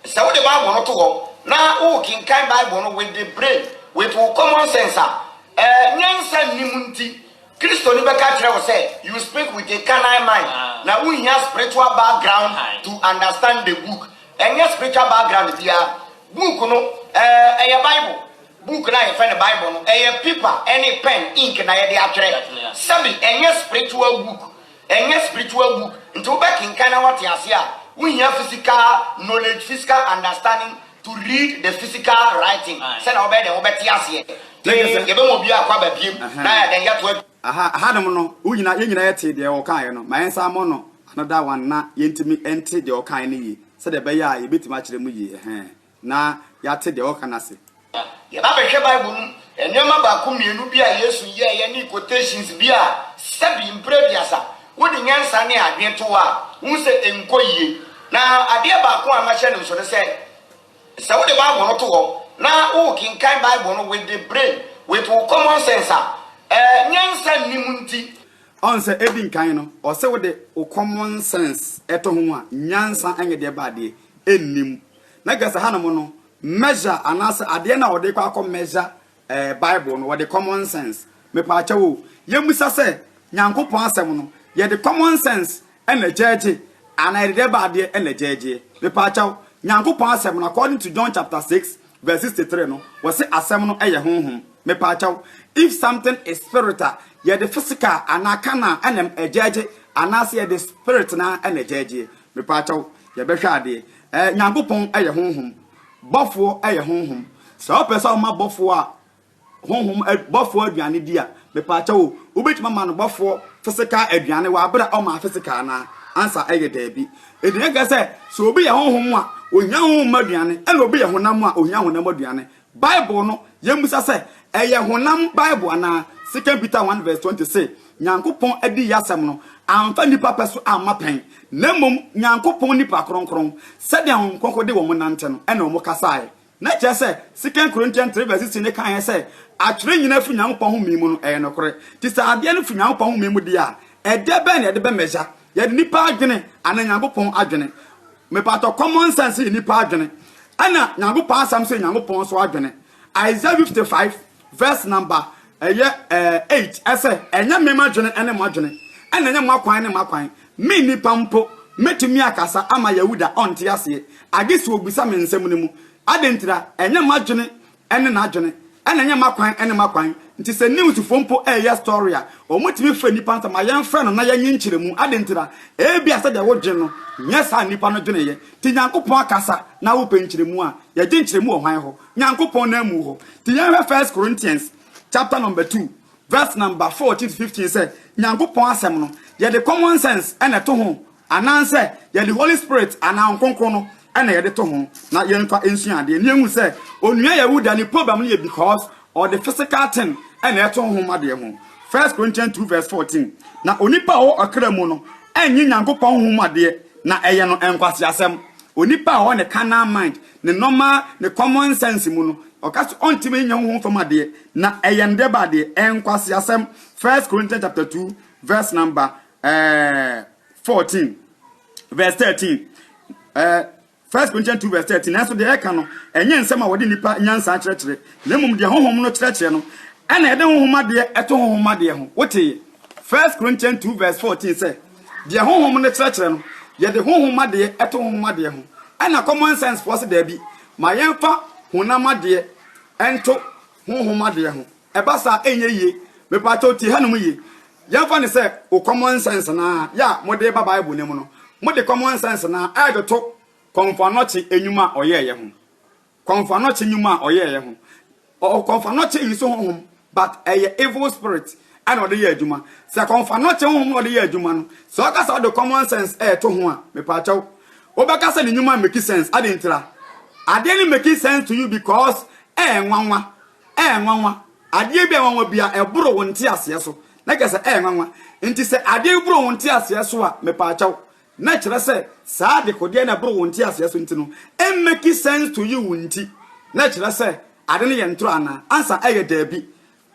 sɛ wode Bible no to hɔ na worekenkan Bible no with the brain, with wo common sense a, eh, nyansa nnim nti, Kristoni bɛka akyerɛ wo sɛ you speak with a carnal mind na wonhia spiritual background to understand the book. Ɛnyɛ spiritual background biara. Book no ɛɛ ɛyɛ bible. Book no a yɛfrɛ no bible no ɛyɛ paper ɛne pen, ink na yɛde atwerɛ. Sɛbi ɛnyɛ spiritual book. Ɛnyɛ spiritual book. Nti wo bɛkenkan na wate aseɛ a wo hia physical knowledge, physical understanding to read the physical writing sɛdeɛ wo bɛyɛ dɛn wo bɛte aseɛ. Yɛbɛma obiara kwaba biem na yɛn yɛto adwuma. Aha, hanom no, wo nyina, yɛn nyina yɛtee deɛ ɔkaeɛ no, ma yɛn nsa mmɔ no ano da one na yɛntumi nte deɛ ɔkaeɛ no yie, sɛdeɛ ɛbɛyɛ a yɛbɛtumi akyerɛ mu yie, ɛhɛɛ, na yɛate deɛ ɔreka no ase. Ná yɛba bɛhwɛ Bible no mu nneɛma baako mmienu bi a Yesu yɛeɛ ne quotations bi a sɛbi mprɛ aduasa wode nyansa ne adwene to a, wohu sɛ ɛnkɔ yie. Na adeɛ baako a mahyɛ no nso ne sɛ, Sɛ wode Bible no to hɔ na worekenkan Bible no with the brain, with wo common sense a, ɛɛ, nyansa nnim nti. Ɔn sɛ edi nkan no, ɔse wode wo common sense to ho a, nyansa nyɛ deɛ ɛba adeɛ, ɛnnim. Na kyerɛ sɛ hanom no, measure anaasɛ adeɛ no a wɔde rekɔ akɔ measure Eh bible no wɔde common sense mepaakyɛw o yɛmmisa sɛ Nyankopɔn asɛm no yɛde common sense na gyɛɛgye anaa yɛde dɛbɛ adeɛ na gyɛɛgyeɛ mepaakyɛw Nyankopɔn asɛm no according to John chapter 6 verse 63 no wɔse asɛm no yɛ honhom mepaakyɛw if something is spirit a yɛde physical anaa carnal na gyɛɛgye anaasɛ yɛde spirit na gyɛɛgyeɛ mepaakyɛw yɛbɛhwɛ adeɛ eh Nyankopɔn yɛ honhom Bɔfoɔ yɛ honhom. Sɛ wopɛ sɛ woma bɔfoɔ a honhom bɔfoɔ aduane di a, mepaakyɛw o, wobɛtumi ama no bɔfoɔ physical aduane wɔ abere a ɔmaa physical anaa? Answer yɛ daabi. Enti na ɛka sɛ, sɛ obi yɛ honhom a, ɔhia honhom mu aduane, ɛna obi yɛ honam a, ɔhia honam aduane. Bible no, yɛmmisa sɛ, ɛyɛ honam Bible anaa? Second Peter one verse twenty se, Nyankopɔn adiyisɛm no amfa nnipa pɛ so amma pɛn, na mmom Nyankopɔn nnipa kronkron, sɛdeɛ Honhom Kronkron de wɔn nante no, ɛna wɔn kasaeɛ. Na kyerɛ sɛ, 2 Corinthians 3 vs 16 no kaeɛ sɛ, Atwerɛ nyina firi Nyankopɔn home mu no, ɛyɛ nokore. Nti sɛ adeɛ no firi Nyankopɔn home mu deɛ a, ɛdeɛ bɛn na yɛde bɛ measure? Yɛde nnipa adwene anaa Nyankopɔn adwene? Mepatɔ, common sense yɛ nnipa adwene, ɛna Nyankopɔn asɛm nso yɛ Nyankopɔn nso adwene. Isaiah 55. Verse number ɛyɛ ɛɛ eight ɛsɛ ɛnyɛ me m'adwene ɛne mo adwene ɛna ɛnyɛ mo akwan ne m'akwan me nipa mpo mɛtumi akasa ama Yahuda ɔnte aseɛ agye sɛ obisa me nsɛm no mu adentira ɛnyɛ m'adwene ɛne n'adwene ɛna ɛnyɛ m'akwan ɛne m'akwan nti sɛ news foɔ mpo ɛɛyɛ story a wɔn tumi frɛ nipa nsɛm a yɛn frɛ no na yɛnye nkyerɛ mu adentira ebi a sɛdeɛ wodwene no nyɛ saa nipa no dweneeɛ ti nyankopɔn akasa na wopɛ nkyerɛ mu a yɛgye nkyerɛ mu wɔ hwan hɔ Nyankopɔn nan mu hɔ. Nti yɛnhwɛ First Corinthians chapter number two verse number fourteen to fifteen sɛ Nyankopɔn asɛm no yɛde common sense ɛna ɛto ho anaasɛ yɛde Holy Spirit anaa Ɔnkronkron no ɛna yɛde to ho na yɛnfa nsua adeɛ ne yɛhu sɛ onua Yehuda ne problem no yɛ because ɔde physical thing ɛna ɛto honhom adeɛ ho First Corinthians two verse fourteen na onipa a ɔwɔ ɔkra mu no ɛnye Nyankopɔn honhom adeɛ na ɛyɛ no nkwaseasɛm onipa a ɔwɔ ne carnal mind Ne normal, ne common sense mu no, ɔka sɛ ɔntumi nyɛ honhom fam adeɛ, na ɛyɛ ne deba adeɛ. Ɛyɛ nkwaseasɛm. First Corinthians chapter 2 verse number eh, 14 verse 13. Eh, First Corinthians 2 verse 13. Nanso deɛ ɛka no, ɛnyɛ nsɛm a wɔde nnipa nyansa akyerɛkyerɛ, na mmom deɛ honhom no kyerɛkyerɛ no, ɛna ɛde honhom adeɛ ɛto honhom adeɛ ho. Woteeɛ? First Corinthians 2 verse 14 sɛ. Deɛ Honhom no kyerɛkyerɛ no, yɛde honhom adeɛ to honhom adeɛ ho, ɛna common sense foɔ se daabi, ma yɛmfa honam adeɛ nto honhom adeɛ ho. Ɛba saa ɛnyɛ yie. Mepaakyɛw tie hanom yie. Yɛmfa no sɛ wo common sense no ara yɛ a mode ba Bible no mu no, mode common sense no ara ɛretoto Kɔmfoanɔkye nnwuma a ɔyɛeɛ ho. Kɔmfoanɔkye nwuma a ɔyɛeɛ ho. Ɔ kɔmfoanɔkye nso honhom but ɛyɛ evil spirit ɛna ɔde yɛ adwuma. Sɛ kɔmfoanɔkye honhom na ɔde yɛ adwuma no, sɛ ɔka sɛ ɔde common sense ɛɛto ho a, mepaakyɛw, wobɛka sɛ ne nwuma mmeki sense. Adɛn ntira? Adeɛ no mmeki sense to you because ɛyɛ nwanwa. Ɛyɛ nwanwa. Adeɛ bi a ɛyɛ nwanwa bia ɛboro wo nteaseɛ so. Na kyerɛ sɛ ɛyɛ nwanwa. Nti sɛ adeɛ bi boro wo nteaseɛ so a, mepaakyɛw, Na ɛkyerɛ sɛ saa adekodeɛ no a ɛboro wo nteaseɛ so nti no ɛmmɛki sense to you nti na ɛkyerɛ sɛ ade no yɛ ntorɔ anaa? Ansa ɛyɛ daabi.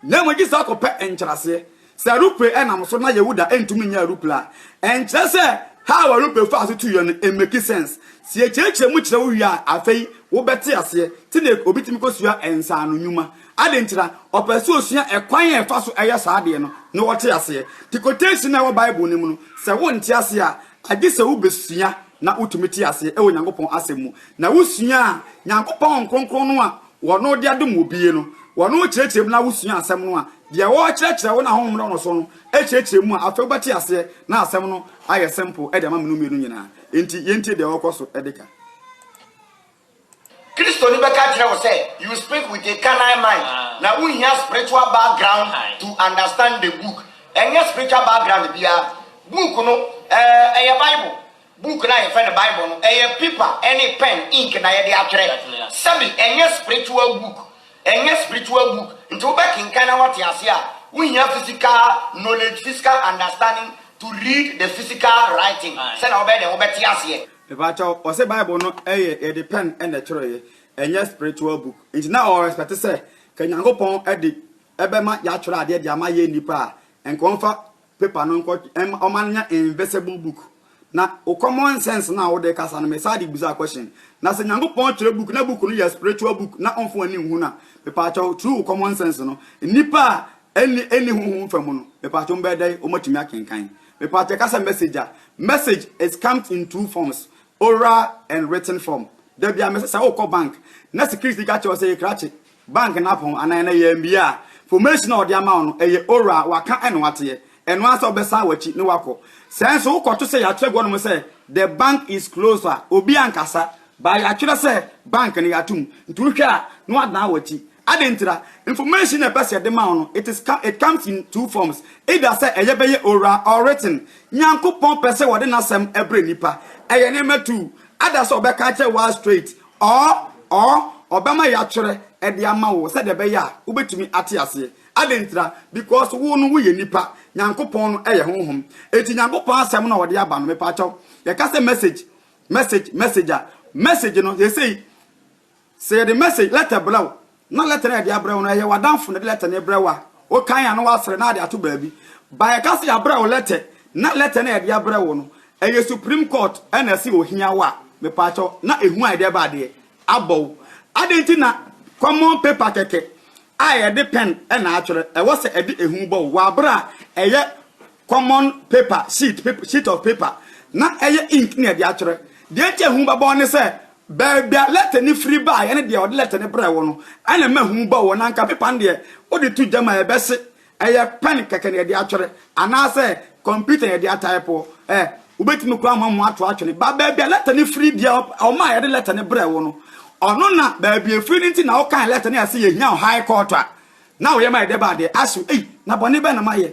Na mmom gye sɛ wokɔpɛ nkyerɛaseɛ. Sɛ aeroplane ɛnam so na Yehuda ɛntumi nyɛ aeroplane a, ɛnkyerɛ sɛ how aeroplane faa so tuiɛ no ɛmmɛki sense. Sɛ yɛkyerɛkyerɛ mu kyerɛ wo wie a, afei wobɛte aseɛ te na obi tumi kɔsua nsaano nnwuma. Adɛn nti na ɔpɛ sɛ ɔsua ɛkwan a ɛfa so yɛ saa adeɛ no na ɔte aseɛ? Te quotation a ɛwɔ Bible no mu no, sɛ wonte aseɛ a, agye sɛ wobɛsua na wotumi te aseɛ wɔ Nyankopɔn asɛm mu. Na wosua a, Nyankopɔn Honhom Kronkron no a Ɔno de adom obie no, Ɔno rekyerɛkyerɛ mu na wosua asɛm no a, deɛ ɔrekyerɛkyerɛ wo no a Honhom da no so no kyerɛkyerɛ mu a, afei wobɛte aseɛ na asɛm no ayɛ simple de ama me no mmienu nyinaa. Enti yɛntie deɛ ɔrekɔ so de ka. Kristoni bɛka akyerɛ wo sɛ you speak with a carnal mind na wonhia spiritual background to understand the book. Ɛnyɛ spiritual background biara. Book no ɛyɛ Bible. Book no a yɛfrɛ no Bible no ɛyɛ paper ɛne pen, ink na yɛde atwerɛ. Sɛbi ɛnyɛ spiritual book. Ɛnyɛ spiritual book. Nti wobɛkenkan na wate aseɛ a, wonhia physical knowledge, physical understanding to read the physical writing sɛnea wobɛyɛ dɛn wobɛte aseɛ. Mepakyɛw, ɔse bible no yɛ yɛde pen na ɛtwerɛeɛ, ɛnyɛ spiritual book, nti na ɔwɔ respect sɛ ka Nyankopɔn de bɛma yɛatwerɛ adeɛ de ama yɛn nnipa a, nka ɔmfa paper no nkɔ ɔma no nyɛ invisible book. Na wo common sense no a wode kasa no me saa de bisa question, na sɛ Nyankopɔn twerɛ book na book no yɛ spiritual book na ɔmfa w'ani nhu no a, mepakyɛw through wo common sense no, nnipa a ɛnni honhom fa mu no, mepakyɛw wɔbɛyɛ dɛn wɔatumi akenkan? Mepakyɛ ka sɛ message a. Message is comes in two forms, oral and written form. Da bia mese sɛ wokɔ bank na security ka kyerɛ wo sɛ yɛ krakye bank no apɔn anaa ɛnɛ yɛ mmia a, formation a ɔde ama wo no ɛyɛ oral, waka ɛna wateɛ. Ɛno ara sɛ wobɛsan wakyi ne wakɔ. Sɛ nso wokɔto sɛ yɛatwerɛ gu hɔ nom sɛ the bank is closed a, obi ankasa, but yɛatwerɛ sɛ bank no yɛato mu. Nti wohwɛ a na wadan wakyi. Adɛn ntira? Information na ɛpɛ sɛ yɛde ma wo no, it is come, it comes in two forms, either sɛ ɛyɛ bɛyɛ oral or written. Nyankopɔn pɛ sɛ wɔde N'asɛm brɛ nnipa. Ɛyɛ nneɛma two, either sɛ Ɔbɛka akyerɛ wo ara straight, or, or Ɔbɛma yɛatwerɛ de ama wo sɛdeɛ ɛbɛyɛ a wobɛtumi ate aseɛ. Adɛn ntira? Because wo no woyɛ nipa, Nyankopɔn no yɛ Honhom. Enti Nyankopɔn Asɛm na Ɔde aba no, mepaakyɛw, yɛka sɛ message, message, message a, message no, seesei, Sɛ yɛde message lɛtɛ brɛ wo na lɛtɛ no a yɛde abrɛ wo no ɛyɛ w'adamfo na ɛde lɛtɛ no rebrɛ wo a, wokan a na woasrɛ na ade ato baabi. But yɛka sɛ yɛabrɛ wo lɛtɛ na lɛtɛ no a yɛde abrɛ wo no ɛyɛ Supreme Court na ɛse ohia wo a, mepaakyɛw na ehu a yɛde reba adeɛ abɔ wo. Adɛn nti na common paper kɛkɛ a yɛde pen na atwerɛ ɛwɔ sɛ ɛde ehu bɔ wo? W'abrɛ a ɛyɛ common paper sheet, sheet of paper na ɛyɛ ink na yɛde atwerɛ. Deɛ nti a ehu bɛbɔ wo ne sɛ Baabi a lɛtɛ no firi baeɛ ne deɛ ɔde lɛtɛ no brɛɛ wo no, ɛna ɛma hu ba wo. Na anka pepa no deɛ, wode to gya mu a, ɛbɛse. Ɛyɛ pɛn kɛkɛ na yɛde atwerɛ, anaasɛ kɔmputa na yɛde ataipoɔ ɛ, wobɛtumi koraa ama moato atwene. Ba baabi a lɛtɛ no firi, deɛ ɔma a yɛde lɛtɛ no brɛɛ wo no, ɔno na baabi a ɛfiri no nti na wokan lɛtɛ no a ɛse yɛhia wo High Court a, na woyɛ ma yɛde ba adeɛ. Aso, ei, na bɔne bɛn na mayɛ?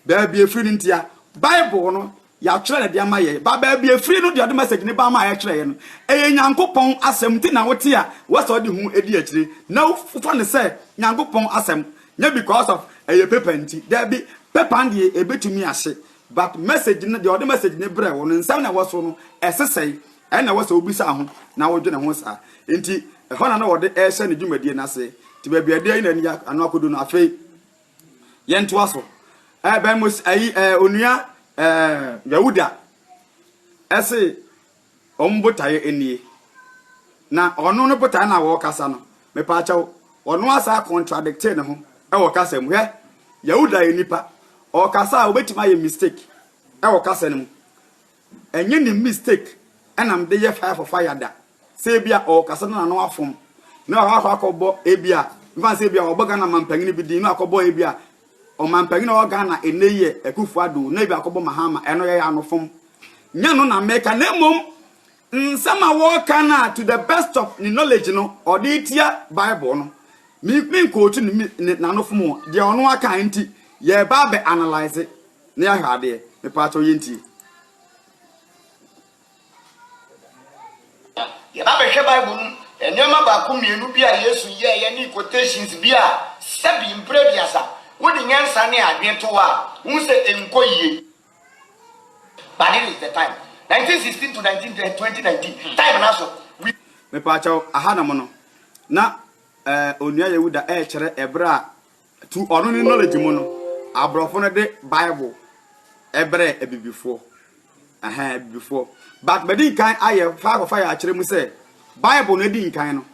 Baabi a ɛfiri no ntia, Bible no Yɛatwerɛ no de ama yɛn, ba baabi ɛfiri no deɛ ɔde message no baa ma yɛtwerɛeɛ no, ɛyɛ Nyankopɔn asɛm nti na wote a wosɛ wode ho di akyire na wofa no sɛ Nyankopɔn asɛm, nyɛ because of ɛyɛ paper nti, daabi, paper no deɛ ɛbɛtumi ahye but message no, deɛ ɔde message no brɛɛ wo no, nsɛm na ɛwɔ so no, ɛse sɛn? Ɛna ɛwɔ sɛ wobisa ho na wodwene ho saa nti ɛhɔ na na ɔde rehyɛ ne dwumadie no aseɛ nti baabi a ɛdeɛ yi na ɛde ano akɔdu no afei. Yɛn toa so. Ɛɛ bɛn mo ayi ɛɛ onua ɛɛ Yawuda ɛse wɔn botaeɛ ɛnie. Na ɔno no botaeɛ na wɔkasa no mepaakyɛw ɔno asan contradictee ne ho ɛwɔ kasa mu hwɛ Yawuda yɛ nipa ɔkasa a obetumi ayɛ mistake ɛwɔ kasa no mu Ɛnyɛ ne mistake na mede yɛ fire for fire da. Sɛ ebia ɔɔkasa na n'ano afom na wakɔ akɔbɔ ebia mfa no sɛ ebia ɔbɔ Ghana manpanyin bi din na wakɔbɔ ebia ɔmanpanyin a ɔwɔ Ghana nnɛ yi yɛ Akuffo Addo na ebia akɔbɔ Mahama ɛno yɛyɛ anofom. Nyɛ no na meka na mmom nsɛm a wɔɔka no a to the best of ne knowledge no ɔde retia Bible no. Me menkootu ne n'anofom o, deɛ ɔno aka nti yɛɛba abɛ analyse. Ne yɛ ahwɛ adeɛ mepaakyɛw yɛ ntie. Yɛ ba bɛhwɛ bible no mu nneɛma baako mmienu bi a Yesu yɛeɛ ne quotations bi a sɛbi mprɛ aduasa wo de nyansa ne adwene to hɔ a wohu sɛ ɛnkɔ yie. But it is the time 1916 to 2019 time no aso we. Mepaakyɛw aha nom no na eh onua Yehuda ɛɛkyerɛ ɛberɛ a Through ɔno ne knowledge mu no, aborɔfo no de Bible ɛbrɛɛ abibifoɔ. Ɛhɛn, abibifoɔ. But madi nkan ayɛ fire for fire akyerɛ mu sɛ, Bible no adi nkan no,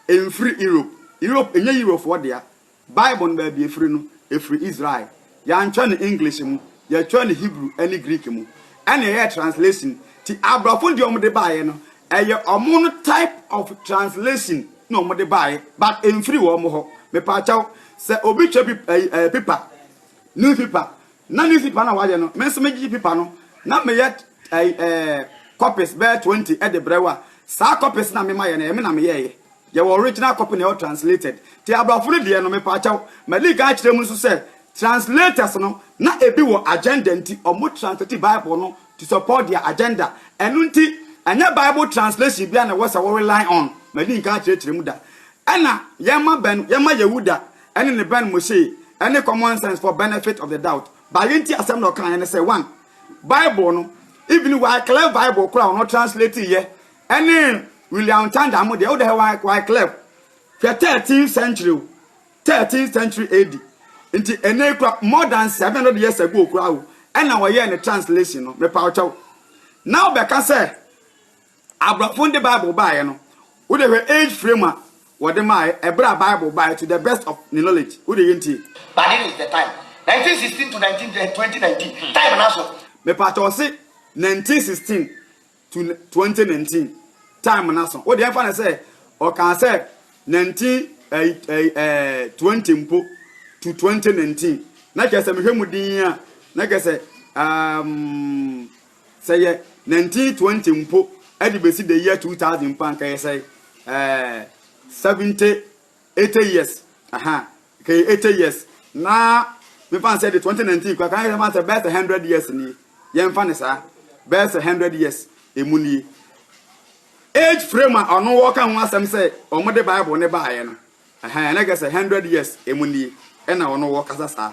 ɛmfiri Europe. Europe, ɛnyɛ Eurofoɔ dea. Bible no baabi ɛfiri no, ɛfiri Israel. Yɛantwerɛ no English mu, yɛtwerɛ no Hebrew ne Greek mu. Ɛna yɛyɛɛ translation. Nti aborɔfo no deɛ wɔde baeɛ no, Ɛyɛ ɔmo no type of translation na ɔmo de baeɛ but ɛnfiri wɔn hɔ. Mepaakyɛw, sɛ obi kyɛ bi ɛyi ɛɛ paper, news paper, na news paper na wayɛ no, me nso megye paper no na meyɛ ɛyi ɛɛ copies bɛyɛ twenty ɛde brɛ wo a, saa copies na mema yɛ no, ɛyɛ me na meyɛɛyɛ. Yɛwɔ original copy na yɛwɔ translated. Nti aborɔfo no deɛ no, mepaakyɛw, madi kan akyerɛ mu nso sɛ translators no na ebi wɔ agenda nti ɔmo translate Bible no to support their agenda ɛno nti ɛnyɛ bible translation bia na ɛwɔ sɛ wo rely on madi nka akyerɛkyerɛ mu da ɛna yɛma bɛn yɛma yehuda ɛne ne bɛn mose ɛne common sense for benefit of the doubt ba yɛnti asɛm na ɔka ɛne sɛ one bible no even wyclef bible kora ɔno translate yɛ ɛne william tanda mo deɛ wodɛ wyclef hwɛ 13th century Thirteenth century AD nti ɛnɛ yi koraa more than seven hundred years ago koraa o ɛna wɔyɛɛ ne translation no mepaw kyɛw na wobɛka sɛ aborɔfo de bible baeɛ no wode hwɛ age frame a wɔde maaeɛ ɛberɛ a bible baeɛ to the best of ne knowledge wode yɛ ntie. But it is the time nineteen sixteen to nineteen twenty nineteen time no aso. Mepakyɛw ɔse nineteen sixteen to twenty nineteen time no aso. Wode ɛmfa no sɛ ɔkaa sɛ nineteen ɛyi ɛyi ɛɛ twenty mpo to twenty nineteen na kyerɛ sɛ mehwɛ mu din a na kyerɛ sɛ um, sɛ yɛ nineteen twenty mpo ɛde besi the year two thousand mpo anka yɛ sɛ ɛɛ seventy Eighty years aha kɛyɛ eighty years na me fa nsɛ de twenty nineteen kura kan yɛ fa nsɛ bɛyɛ sɛ hundred years nie yɛn fa ne saa bɛyɛ sɛ hundred years emu nie age frame a ɔno wɔka ho asɛm sɛ wɔn de bible ne baayɛ no ɛhɛn ɛna kɛ sɛ hundred years emu nie ɛna ɔno wɔkasa saa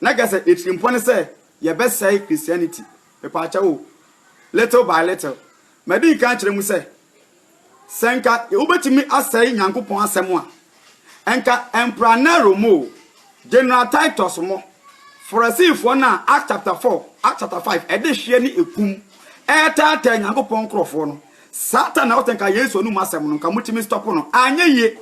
Na kyerɛ sɛ atirimpɔ ne sɛ yɛbɛsɛe Christianity. Mepaakyɛw o, little by little. Madi nkan akyerɛ mu sɛ, sɛ nka wobetumi asɛe Nyankopɔn Asɛm a, nka Emperor Nero mo o, General Titus mo, Farisifoɔ no a Acts chapter four, Acts chapter five, ɛde hweɛ ne ekum ɛretaataa Nyankopɔn nkorɔfoɔ no, Satan na ɔte nka Yesu anom asɛm no, nka motumi stop no. Anyɛ yie,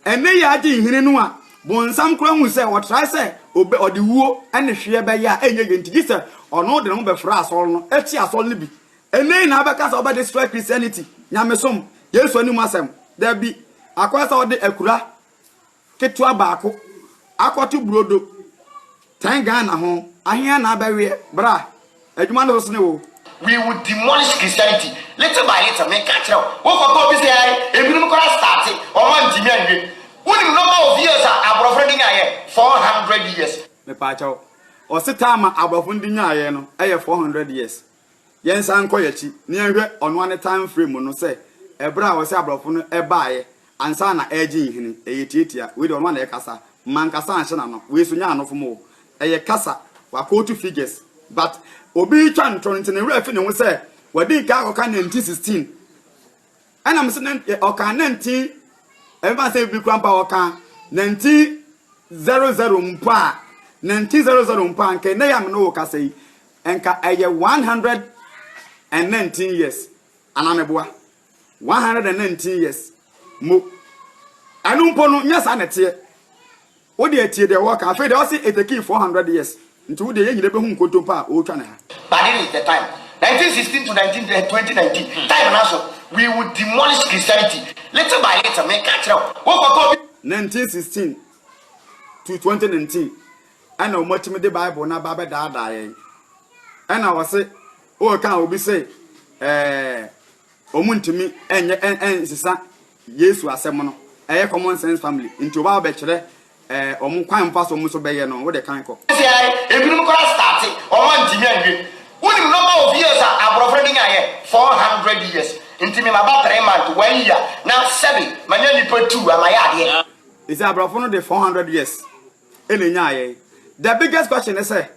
Ɛnnɛ yi ara Gyinhene no a bonsam koraa hui sɛ ɔtrae sɛ ɔde wuo ne hweɛ bɛyɛ a ɛnyɛ yie nti, gye sɛ ɔno de ne ho bɛfra asɔre no akyi asɔre no bi. Ɛnnɛ yi na abɛka sɛ ɔbɛde sra Christianity, nyamesom, Yesu anim asɛm? Dabi, akɔyɛ sɛ ɔde akura ketewa baako akɔto burodo Tɛn Ghana ho ahea na abɛweɛ bra adwuma no bɛsone wo. We will demolish Christianity little by little meka kyerɛ wo wo kɔtɔ obi sɛ ae ebinom koraa starte ɔmo antimi anwie wonim number of years a aborɔfo no de nyaeɛ 400 years. Mepaakyɛw, ɔsetaa ma aborɔfo no de nyaeɛ no yɛ 400 years. Yɛnsan nkɔ yɛn akyi na yɛnhwɛ ɔno ara ne time frame no sɛ ɛberɛ a ɔse abrɔfo no baeɛ ansa na ɛregye nhini. Ɛyɛ tiatia. Wei deɛ ɔno ara na ɛrekasa. Mankasa anhyɛ n'ano. Wei nso nyɛ anofom o. Ɛyɛ kasa. Wakootu figures. But obi retwa ntorɔ nti ne werɛ afi ne ho sɛ wadi nkan akɔka 1916. Ɛna mese na nti ɔka na nti ɛmfa sɛ bi kura mpa ɔka na nti zero zero mpo a na nti zero zero mpo a nka ɛnɛ yɛ amene wɔ kasa yi nka ɛyɛ one hundred and nineteen years anameboa one hundred and nineteen years mo ɛno mpo no nyɛ saa na ɛteɛ Wo deɛ tie deɛ wɔka afei deɛ ɔse it takii 400 years nti wo deɛ yɛ nyina bɛhu nkontompo a ɔretwa ne ha. But it is the time, 1916 to 2019 time no so we will demolish Christianity little by little meka kyerɛ wo wo kɔtɔ obi. 1916 to 2019 ɛna ɔmo atumi de bible no aba abɛdaadaa yɛn ɛna ɔse ɔreka obi se ɛɛ Wɔntumi nyɛ nsesa Yesu asɛm no, ɛyɛ common sense family nti oba bɛkyerɛ wɔn kwan mfa so wɔn nso bɛyɛ no, wode kan kɔ. Ɔsi ae, ebinom koraa starte, wɔn antumi anwie. Wonim number of years a aborɔfo no de nyaeɛ? Four hundred years, nti me maba three month, one year, na sɛbe manya nipa two a mayɛ adeɛ. Ese aborɔfo no de four hundred years na ɛnyaeɛ, the biggest question ne sɛ,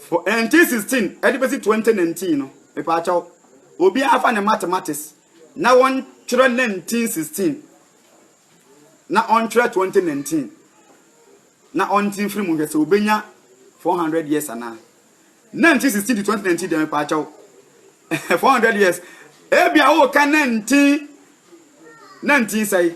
For NT sixteen ɛde bɛsi twenty nineteen no, mepaakyɛw, obiara nfa ne mathematics na wɔntwerɛ nineteen sixteen na ɔntwerɛ twenty nineteen na ɔnte mfiri mu nhwɛ sɛ obenya four hundred years anaa. Nineteen sixteen to twenty nineteen deɛ mepaakyɛw, four hundred years, ebia woka nineteen nineteen sɛe.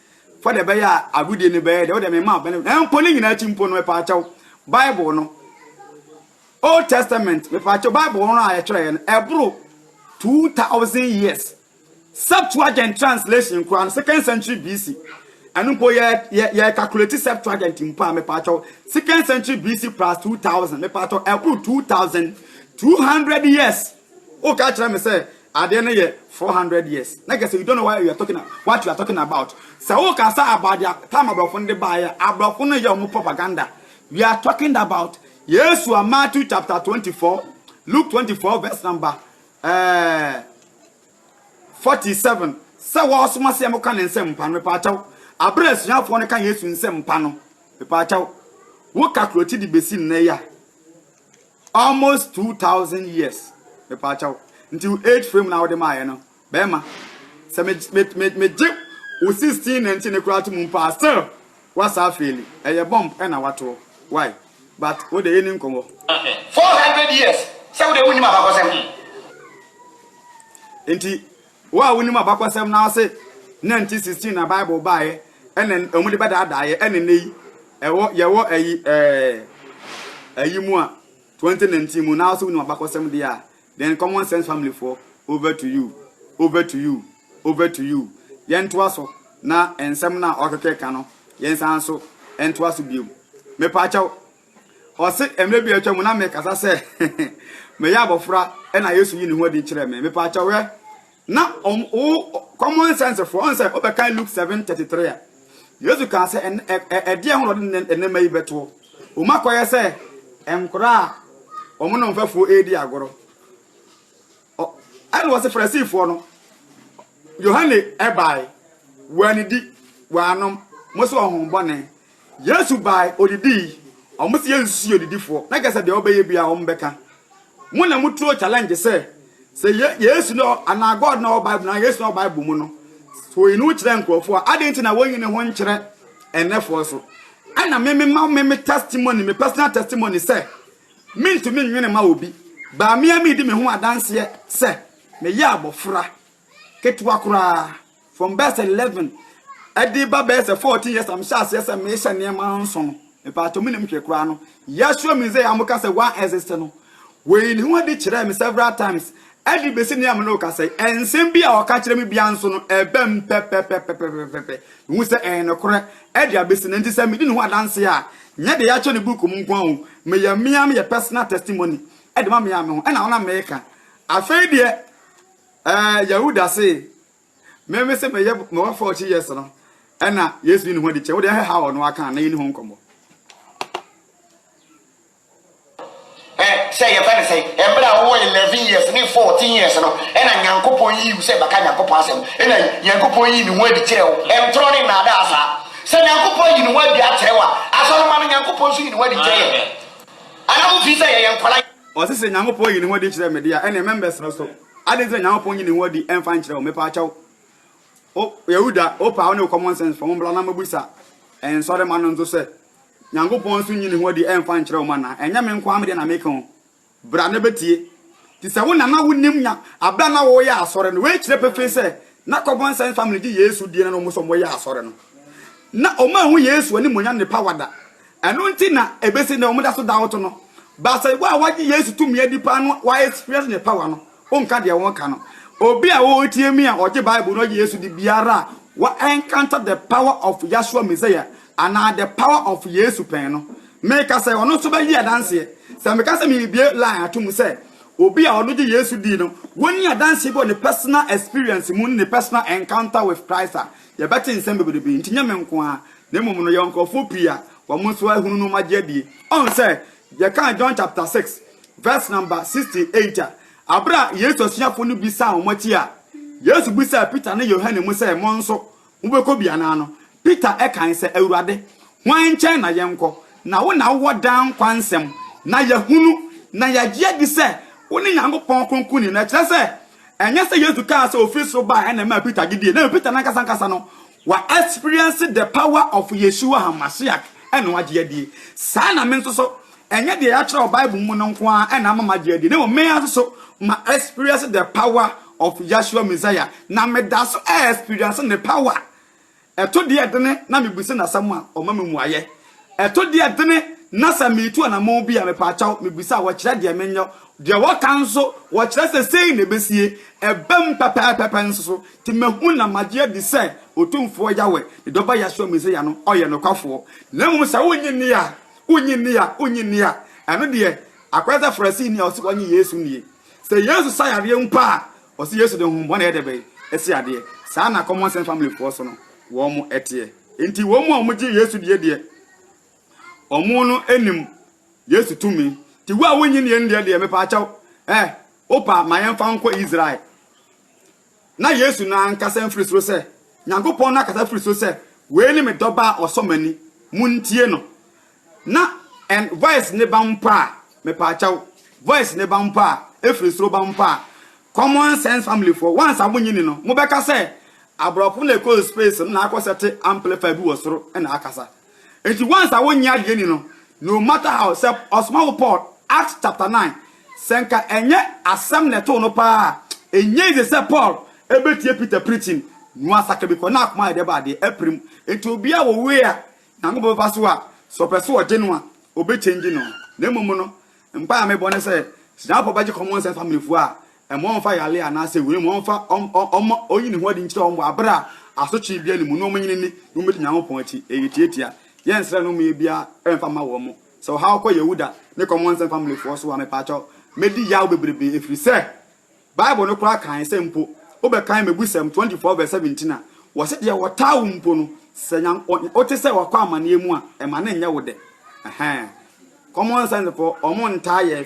fa deɛ ɛbɛyɛ a agodie no bɛyɛ deɛ wode mema wo bɛne na mpo ne nyinaa akyi mpo no mepaakyɛw bible no old testament mepaakyɛw bible no a yɛtwerɛeɛ no ɛboro 2000 years septuagint translation koraa no second century bc ɛno mpo yɛ calculate septuagint mpo a mepaakyɛw second century bc plus 2000 mepaakyɛw ɛboro 2200 years Woka kyerɛ me sɛ adeɛ no yɛ four hundred years na kyerɛ sɛ you don't know what you are talking what you are talking about. Sɛ woka sɛ about their time aborɔfo no de baeɛ a, aborɔfo no yɛ wɔn propaganda. We are talking about Yesu a Matthew chapter twenty four, Luke twenty four verse number eh, forty seven. Sɛ wɔsoma sɛ wɔka ne nsɛm mpa no mepaakyɛw. Abere asuafoɔ no ka Yesu nsɛm mpa no mepaakyɛw. Woka kuroti de besi nnɛ yi a. Almost two thousand years mepaakyɛw nti wo age frame na wode maayɛ no bɛrima sɛ me me me megye wo sixteen nineteen ne koraa to mu mpo a still wasa afeeli ɛyɛ bomb ɛna watoɔ why but wode yɛ ni nkɔmɔ. Four hundred years sɛ wode wo nim abakɔsɛm ho. Nti Wo a wunim abakɔsɛm no ara se Nanti 16 na Bible baeɛ ɛna wɔn de bɛdaadaa yɛ ɛna nnɛ yi ɛwɔ yɛwɔ ayi ɛɛ ayi mu a 2019 mu na wo so wunim abakɔsɛm deɛ a then common sense family foɔ over to you over to you over to you yɛntoa so na nsɛm no a ɔkeke ka no yɛnsan so ntoa so biom mepaakyɛw Ɔse, Mmerɛ bi a atwa mu na mekasa sɛ meyɛ abɔfra na Yesu yi ne ho adi kyerɛ me. Mepaakyɛw ɛ, na wo common sense foɔ, ɔn sɛ wobɛkan Luke 7:33 a, Yesu kaa sɛ ɛdeɛ ho na ɔde nneɛma yi bɛtoɔ. Wɔn akɔyɛ sɛ nkora a wɔn no mfɛfoɔ ɛredi agorɔ. Ɛna ɔse Farisifoɔ no, Yohane ɛbae, wɔanidi, wɔanom, mo sɛ ɔhombɔne. Yesu bae, odidii. Wɔn se yɛnsusu yɛ odidifoɔ, na kyerɛ sɛ deɛ ɔbɛyɛ biara wɔn bɛka. Mo na mo turo challenge sɛ, sɛ yɛ Yesu na anaa God na ɔwɔ Bible mu, anaa Yesu na ɔwɔ Bible mu no, sɛ ɔyi ne ho kyerɛ nkurɔfoɔ a, adɛn nti na wɔnyi ne ho nkyerɛ ɛnnɛfoɔ so? Ɛna me me ma me me testimony, me personal testimony sɛ, mentumi nnwene mma obi, baa me ara meredi me ho adanseɛ sɛ, meyɛ abɔfra ketewa koraa. From bɛyɛ sɛ eleven ɛde ba bɛyɛ sɛ fourteen years a mehyɛ aseɛ sɛ mehyɛ nneɛma nso no mepatɔ mu nim hwɛ koraa no yɛahyɛ mu sɛ yɛn ka sɛ one exist no wɔyi ne ho adi kyerɛ me several times ɛde bɛsi nea me ne woka sɛ ɛnsɛm bi a ɔka kyerɛ me bia nso no ɛbɛ m pɛpɛpɛpɛpɛpɛpɛ mehu sɛ ɛyɛ nokorɛ ɛde abɛsi no nti sɛ medi ne ho adanse a nyɛ de yɛakyɛ no book mu nko a o meyɛ mmea meyɛ personal testimony ɛde ma mea me ho ɛna wona meka afei deɛ Ɛɛ, Yahuda se, Me mese meyɛ me wɔfɔ ɔkye yɛs no, ɛna Yesu yi ne ho adi kyɛ wo deɛ ɛhɛ ha ɔno aka na yɛni ho nkɔmmɔ. Ɛ, sɛ yɛfɛ ne sɛ, ɛberɛ a wowɔ 11 years ne 14 years no, ɛna Nyankopɔn yii wo sɛ bɛka Nyankopɔn asɛm, ɛna Nyankopɔn yii ne ho adi kyerɛɛ wo. Ntorɔ ne nnaadaa saa. Sɛ Nyankopɔn yi ne ho adi akyerɛ wo a, Asɔremma no Nyankopɔn nso yi ne ho adi kyerɛ yɛn. Anaa mofii sɛ yɛyɛ nkwadaa? Ɔse sɛ Nyankopɔn yi ne ho adi kyerɛ me de a, ɛneɛ mɛmbɛsrɛ so. Adɛn nti na Nyankopɔn nyi ne ho adi mfa nkyerɛ wo? Mepaakyɛw, O Yahuda, wopɛ a wo ne wo common sense fam mbra na mɛbusa nsɔremma no nso sɛ, Nyankopɔn nso nyi ne ho adi mfa nkyerɛ wo mu anaa? Ɛnyɛ me nko ara me deɛ na meka o. Bra na bɛtie. Nti sɛ wo na na wonim nya abere a na wɔreyɛ asɔre no, wei kyerɛ pefee sɛ na common sense family gye Yesu die na na wɔn nso wɔyɛ asɔre no. Na wɔanhu Yesu animuonyam ne power da. Ɛno nti na ɛbɛsi nnɛ wɔda so doubt no. But sɛ wo a wagye Yesu tumi adi paa no wa experience ne power no, wonka deɛ wɔka no. Obi a ɔretie me a ɔgye Bible no ɔgye Yesu di biara a wa encounter the power of Yahshua Messiah anaa the power of Yesu pɛn no. Meka sɛ ɔno nso bɛgye adanseɛ. Sɛ meka sɛ merebue line ato mu sɛ obi a ɔno gye Yesu di no, wɔnni adanseɛ bi wɔ ne personal experience mu ne ne personal encounter with Christ a, Yɛbɛte nsɛm bebrebe, enti nyɛ me nko ara, na mmom no yɛwɔ nkurɔfoɔ pii a wɔn nso ahunu no wɔagye adie. Ɔhu sɛ yɛkaa John chapter 6 verse number 68 a, aberɛ a Yesu asuafoɔ no bi san wɔn akyi a, Yesu bisaa Peter ne Yohane mu sɛ, Mo nso, mobɛkɔ bi anaa no? Peter kae sɛ, Awurade, hwan nkyɛn na yɛnkɔ? Na wo na wowɔ daa nkwa nsɛm. Na yɛahunu, na yɛagye adi sɛ wone Nyankopɔn Kronkronni no, ɛkyerɛ sɛ, Ɛnyɛ sɛ Yesu kaa sɛ ofi soro bae na ɛmaa Peter gye dii. Na mmom Peter no ankasa ankasa no, wa experience the power of Yeshua HaMashiach na wagye adie. Saa na me nso so, ɛnyɛ deɛ yɛatwerɛ wɔ Bible mu no nko ara na ama magye adie, na mmom me ara nso so ma experience the power of Yeshua Messiah, na meda so experience ne power Ɛto deɛ dene na mebisa no asɛm a, ɔma me mmuaeɛ. Ɛto deɛ dene na sɛ meretu anammɔn bi a, mepaakyɛw, mebisa a, wɔkyerɛ deɛ menyɛ. Deɛ wɔka nso, wɔkyerɛ sɛ sei na ɛbɛsie. Ɛbam pɛpɛɛpɛ pɛ nso so. Nti mahu na magye adi sɛ Otumfoɔ Yahweh, ne Dɔba Yahsua Mesia no, ɔyɛ nokwafoɔ. Na mmom sɛ wonnye nni a, wonnye nni a, wonnye nni a, ɛno deɛ, akɔyɛ sɛ Farisini a ɔse ɔnnye Yesu nnie. Sɛ Yesu sa yareɛ mpo a, Ɔse Yesu de honhommɔne yɛ dɛbɛn asi adeɛ? Saa na common sense family foɔ so no wɔn ɛteɛ. Enti wɔn a wɔn gye Yesu die deɛ wɔn no nim Yesu tumi. Nti wo a wonnye nnie no deɛ deɛ mepaakyɛw eh wopa ma yɛn fa nkɔ Israel. Na Yesu no ankasa mfiri soro sɛ Nyankopɔn no akasa firi soro sɛ wei ne me dɔba a ɔsɔ m'ani, montie no. Na en voice ne ba mpo a mepaakyɛw voice ne ba mpo a efiri soro ba mpo a common sense family foɔ once a mo nyi ni no mo bɛka sɛ abrɔfo na ɛkɔ space no na akɔ sɛte amplifier bi wɔ soro na akasa nti once a wonye adeɛ ni no no matter how sɛ ɔsoma wo Paul Acts chapter 9 sɛ nka ɛnyɛ asɛm na ɛtoo no paa a ɛnyɛ easy sɛ Paul ɛbɛtie Peter preaching no asaka bi kɔ na akoma ayɛ dɛ baa deɛ apirim nti obi a wɔwei a Nyankopɔn bɛfa so a, sɛ ɔpɛ sɛ ɔgye no a, obe change no. Na mmom no, mpae a mebɔ ne sɛ, sɛ Nyankopɔn bɛgye common sense family foɔ a, mma ɔmfa yare anaa sɛ wei, mma ɔmfa, ɔm, ɔm, ɔmma ɔnyi ne ho adi nkyerɛ wɔn wɔ abere a asotwee bia ne mu, na wɔn nyini ni, na wɔn bɛdi Nyankopɔn akyi. Ɛyɛ tiatia. Yɛn srɛ no mmeɛ biara mfa mma wɔn. Sɛ ɔhaw kɔ Yehuda ne common sense family foɔ so a, mepaakyɛw, mɛdi yaw bebrebe, ɛfiri sɛ, Bible no koraa kae sɛ mpo wobɛkan Mmebusɛm twenty four vs seventeen a, wɔse deɛ ɔtaa wo mpo no, sɛ wote sɛ wakɔ amaneɛ mu a, ɛma no nyɛ wo dɛ. Ɛhɛɛ. Common sense foɔ, wɔn ntaa yɛ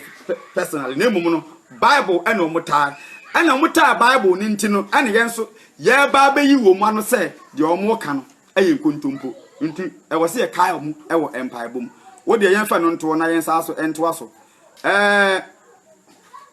personally, na mmom no, Bible ɛna wɔn taa. Ɛna wɔn taa Bible no nti no, ɛna yɛn nso yɛreba abɛyi wɔn ano sɛ deɛ wɔn ka no ɛyɛ nkontompo. Nti ɛwɔ sɛ yɛkae wɔn ɛwɔ mpaebɔ mu. Wo deɛ yɛn fɛ no ntoɔ na yɛn nsa so ntoa so. Ɛɛ.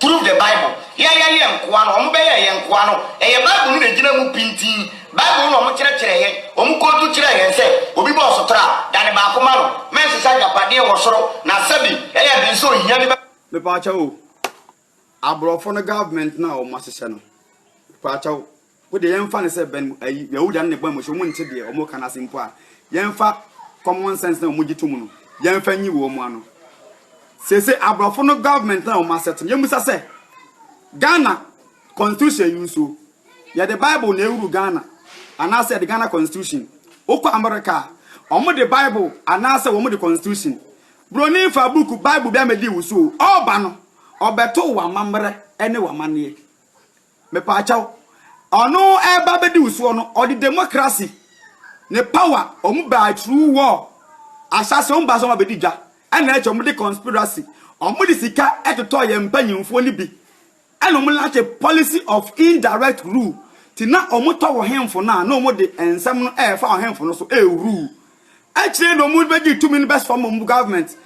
Prove the Bible, Yɛnyɛ yɛn nkoa no, wɔbɛyɛɛ yɛn nkoa no, ɛyɛ Bible no na ɛgyina mu pintinn, Bible no na wɔkyerɛkyerɛɛ yɛn, wɔn kootu kyerɛɛ yɛn sɛ, obi bɔ ɔsotra a, da ne baako ma no, mɛnsesa agyapadeɛ wɔ soro, na sɛbi, ɛyɛ den sɛ ohia bi bɛ. Mepa kyɛw o, abrɔfo no government no a wɔahyehyɛ no, mepa kyɛw. Wo deɛ yɛnfa no sɛ bɛn ayi Yahuda no ne bɔn mo so ɔmo nte deɛ ɔmo ka no ase mpo a yɛnfa common sense na ɔmo gye tom no yɛnfa nyi wɔ ɔmo ano seesei abrɔfo no government na ɔmo asɛt no yɛmmusa sɛ Ghana constitution yi nso yɛde bible na ɛwuru Ghana anaasɛ yɛde Ghana constitution wokɔ America a ɔmo de bible anaasɛ wɔn de constitution broni fa book bible bi amedi wo so ɔba no ɔbɛto wɔ amammerɛ ne wɔ amanneɛ Mepaakyɛw, ɔno ɛreba abɛdi wo soɔ no, ɔde democracy ne power ɔmo baa through war, ahyɛase ɔmo baa sɛ ɔmo abɛdi dwa, ɛna akyɛ ɔmo de conspiracy, ɔmo de sika ɛtotɔɔ yɛn mpanyinfoɔ no bi, ɛna ɔmo launch policy of indirect rule, ti na ɔmo tɔ ɔhenfo no a na ɔmo de nsɛm no ɛɛfa ɔhenfo no so ɛɛrule Akyire yi na wɔn bɛgye tumi no bɛsfam wɔn government.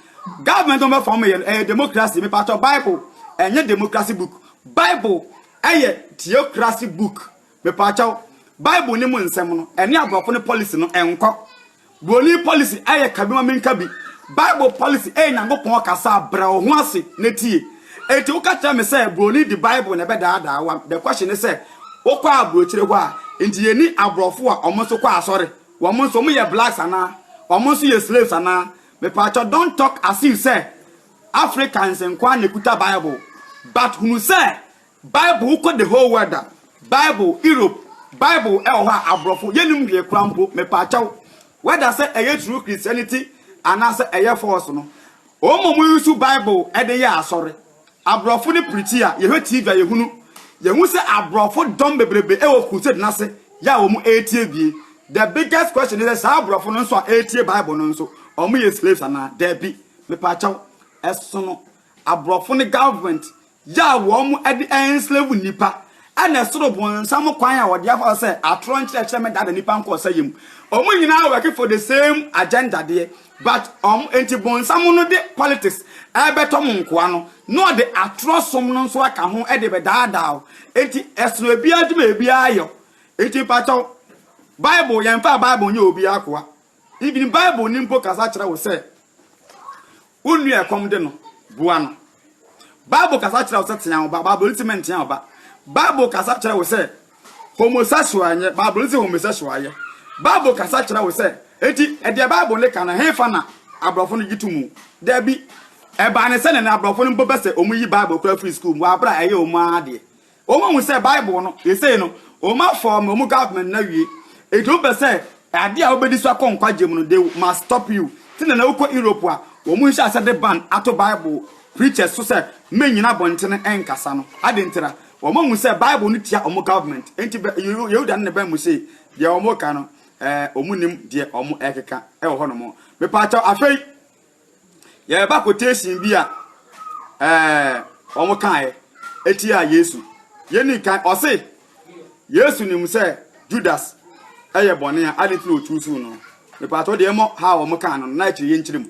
Government wɔn bɛfam yɛ no ɛyɛ democracy mepatɔ bible ɛnyɛ democracy book bible ɛyɛ theocracy book mepatɔ bible ne mu nsɛm no ɛne aborɔfo no policy no ɛnkɔ broni policy ɛyɛ kabi ma menka bi bible policy ɛyɛ nyankopɔn kasa brɛ wo ho ase na tie eti woka kyerɛ me sɛ broni di bible na ɛbɛdaadaa wa the question ne sɛ wokɔ aburokyire hɔ a nti yɛni aborɔfo a wɔn nso kɔ asɔre Wɔn nso wɔyɛ blacks anaa? Wɔn nso yɛ slaves anaa? Mepaakyɛw don't talk as if sɛ Africans nko ara na ɛkuta bible but hunu sɛ bible wokɔ the whole world a bible Europe bible ɛwɔ hɔ a aborɔfo yɛnnim hwee koraa mpo mepaakyɛw whether sɛ ɛyɛ true Christianity anaasɛ ɛyɛ false no wɔn a wɔyusu bible ɛde yɛ asɔre Abrɔfo ne piriti a yɛhwɛ TV a yɛhunu yɛhu sɛ abrɔfo dɔm bebrebe wɔ crusade no ase yɛ a wɔn ɛretie bie the biggest question ne sɛ saa abrɔfo no nso a ɛretie bible no nso wɔn yɛ slaves anaa daabi mepaakyɛw ɛsono abrɔfo ne government yɛ a wɔn ɛde enslave nnipa ɛna ɛsoro bonsam kwan a wɔde afa sɛ atorɔ nkyerɛkyerɛ mɛdada nnipa nkɔ ɔsɛyɛ mu wɔn nyinaa wɔke for the same agenda deɛ But ɔm nti bonsam no de politics ɛɛbɛtɔ mo nkoa no na ɔde atorɔ som no nso aka ho de bɛdaadaa wo nti ɛsono ɛbiaa adwuma a ɛbiaa yɛ nti mpakyɛw bible yɛnfaa bible nyɛ obiaa akoa even bible no mpo kasa kyerɛ wo sɛ wo nua ɛkɔm de no boa no bible kasa kyerɛ wo sɛ tea wo ba bible ntimi ntea wo ba bible kasa kyerɛ wo sɛ Homosexual nyɛ Bible no se homosexual yɛ. Bible kasa kyerɛ wo sɛ, enti deɛ Bible no ka no, hefa na aborɔfo no gye to mu? Dabi. Ɛbaa ne sɛnea na aborɔfo no mpo pɛ sɛ wɔyi Bible koraa firi sukuu mu wɔ abere a ɛyɛ wɔn ara deɛ. Wɔahu sɛ Bible no, seesei no, wɔafɔɔme wɔn government no awie. Enti wopɛ sɛ adeɛ a wobɛdi so akɔ nkwagye mu no, they must stop you. Te na na wokɔ Europe a, wɔn nhyɛ aseɛ de ban ato Bible preachers so sɛ mennyina abɔntene nkasa no. Adɛn ntira? Wɔahu sɛ Bible no tia wɔn government, enti Yehuda ne ne bɛ mu se, deɛ wɔreka no, eh, wɔnnim deɛ wɔrekeka wɔ hɔnom. Mepaakyɛw, afei, yɛreba quotation bi a, eh, wɔkaeɛ tia Yesu. Yɛnni kan, ɔse, Yesu nim sɛ Judas yɛ bɔne a, ade nti na ɔtuu suu no. Mepaakyɛw deɛ mmɔ ha a wɔkaa no, na akyiri yɛnkyerɛ mu.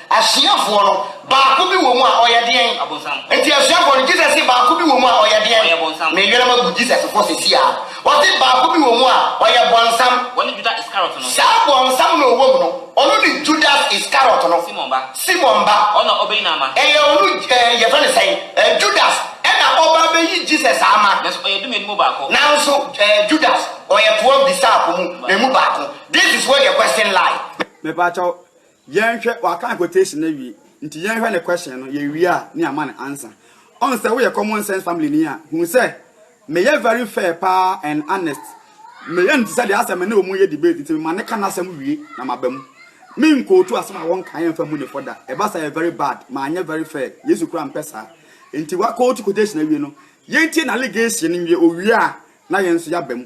Asuafoɔ no, baako bi wɔ mu a ɔyɛ deɛn? Ɔbonsam. Nti asuafoɔ no, Jesus se baako bi wɔ mu a ɔyɛ deɛn? Ɔyɛ bonsam. Me yerem agu Jesus fo sesi aa. Ɔse baako bi wɔ mu a ɔyɛ bonsam. Wɔne Juda Iskariot no. Saa bonsam no a ɔwɔ mu no, ɔno ne Judas Iskariot no. Simon ba. Simon ba. Ɔno a ɔbeyi no ama. Ɛyɛ ɔno, eh, yɛfrɛ no sɛn? Eh, Judas ɛna ɔba abɛyi Jesus ama. Nanso ɔyɛ Dumien mu baako. Nanso, eh, Judas, ɔyɛ twelve disciple mu emu baako. This is where the question lie. Mepaakyɛw, Yɛnhwɛ, waka ne quotation no awie nti yɛnhwɛ ne question no, yɛwie a ne yɛama no answer. Ɔn sɛ woyɛ common sense family ni a, hu sɛ meyɛ very fair paa and honest. Meyɛ no te sɛ deɛ asɛ me ne ɔmo yɛ debate nti mema no ka n'asɛm wie na maba mu. Men quote asɛm a wɔnkaeɛ mfa mmu ne fɔ da, ɛba saa ɛyɛ very bad, manyɛ very fair, Yesu koraa mpɛ saa. Nti wa quote quotation awie no, yɛntie n'allegation no nwie, owie a na yɛn nso yɛaba mu.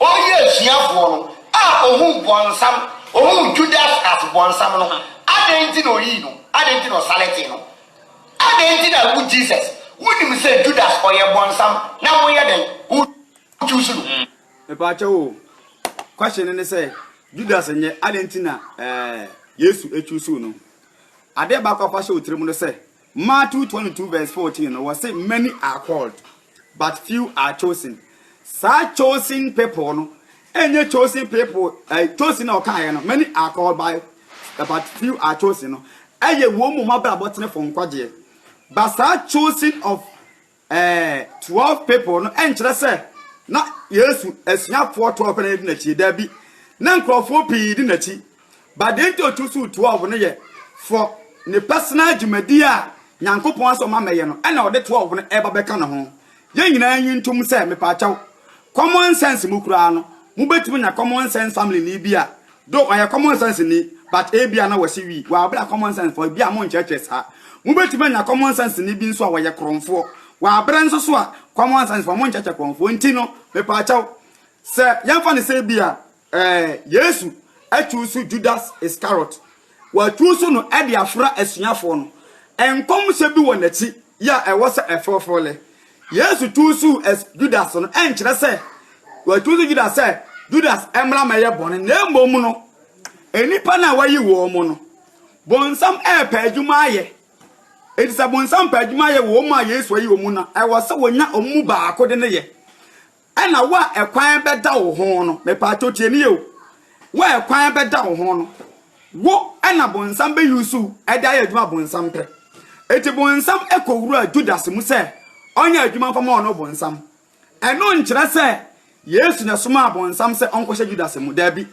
Ɔyɛ asuafoɔ no a ɔhuu bɔnsam, ɔhuu Judas as bɔnsam no, adɛn nti na ɔyii no? Adɛn nti na ɔsaletee no? Adɛn nti na wo Jesus, wonim sɛ Judas ɔyɛ bɔnsam na woyɛ dɛn? Wo choose no? Mepaakyɛw o, question no ne sɛ Judas nyɛ, adɛn nti na eh, Yesu choose no? Adeɛ baako a fa hyɛ wo tirim no sɛ, Matthew 22 vs 14 no, wɔse many are called, but few are chosen. Saa chosen people no, ɛnyɛ chosen people, eh, chosen na ɔkaeɛ no, many are called by, eh, but few are chosen no, ɛyɛ wɔn mu mmabrabɔ tenefo nkwagyeɛ. But saa chosen of Ɛɛ, twelve people no nkyerɛ sɛ na Yesu asuafoɔ twelve na ɛdi n'akyi. Dabi, na nkurɔfoɔ pii di n'akyi. But deɛ nti ɔtu suu twelve no yɛ for ne personal dwumadie a Nyankopɔn asɛ ɔma mɛyɛ no ɛna ɔde twelve no ɛba bɛka ne ho. Yɛn nyinaa nyi ntom sɛ, mepaakyɛw, common sense mu koraa no, mobɛtumi anya common sense family ni bi a Though ɔyɛ common sense ni but ebia na wɔse we were bere a common sense fo ebia monkyerɛkyerɛ saa. Mobetumi anya common sense ni bi nso a wɔyɛ korɔnfoɔ wɔ abere nso so a common sense fo monkyerɛkyerɛ korɔnfoɔ nti no mepaakyɛw sɛ yɛmfa no sɛ ebia eh, Yesu choose Judas Iscariot Wɔatu so no de afra asuafoɔ no. Nkɔmhyɛ bi wɔ n'akyi yɛ a ɛwɔ sɛ ɛfoforo lɛ. Yesu tu so as Judas no ɛnkyerɛ sɛ wɔatu so Judas sɛ Judas mmra mmɛyɛ bɔne na mmom no nnipa no a wɔayi wɔn mu no bonsam repɛ adwuma ayɛ. Enti sɛ bonsam pɛ adwuma yɛ wɔ wɔn a Yesu ayi wɔn mu no a, ɛwɔ sɛ wɔnya wɔn mu baako de no yɛ. Ɛna wo a ɛkwan bɛda wo ho no, mepaakyɛw tie me yie o, wo a ɛkwan bɛda wo ho no, wo ɛna bonsam bɛ use wo ɛde ayɛ adwuma a bonsam pɛ. Eti bonsam ɛkɔ wura Judas mu sɛ ɔnyɛ adwuma mfa ma ɔno bonsam. Ɛno nkyerɛ sɛ Yesu na ɛsomaa bonsam sɛ ɔnkɔhyɛ Judas mu, daabi.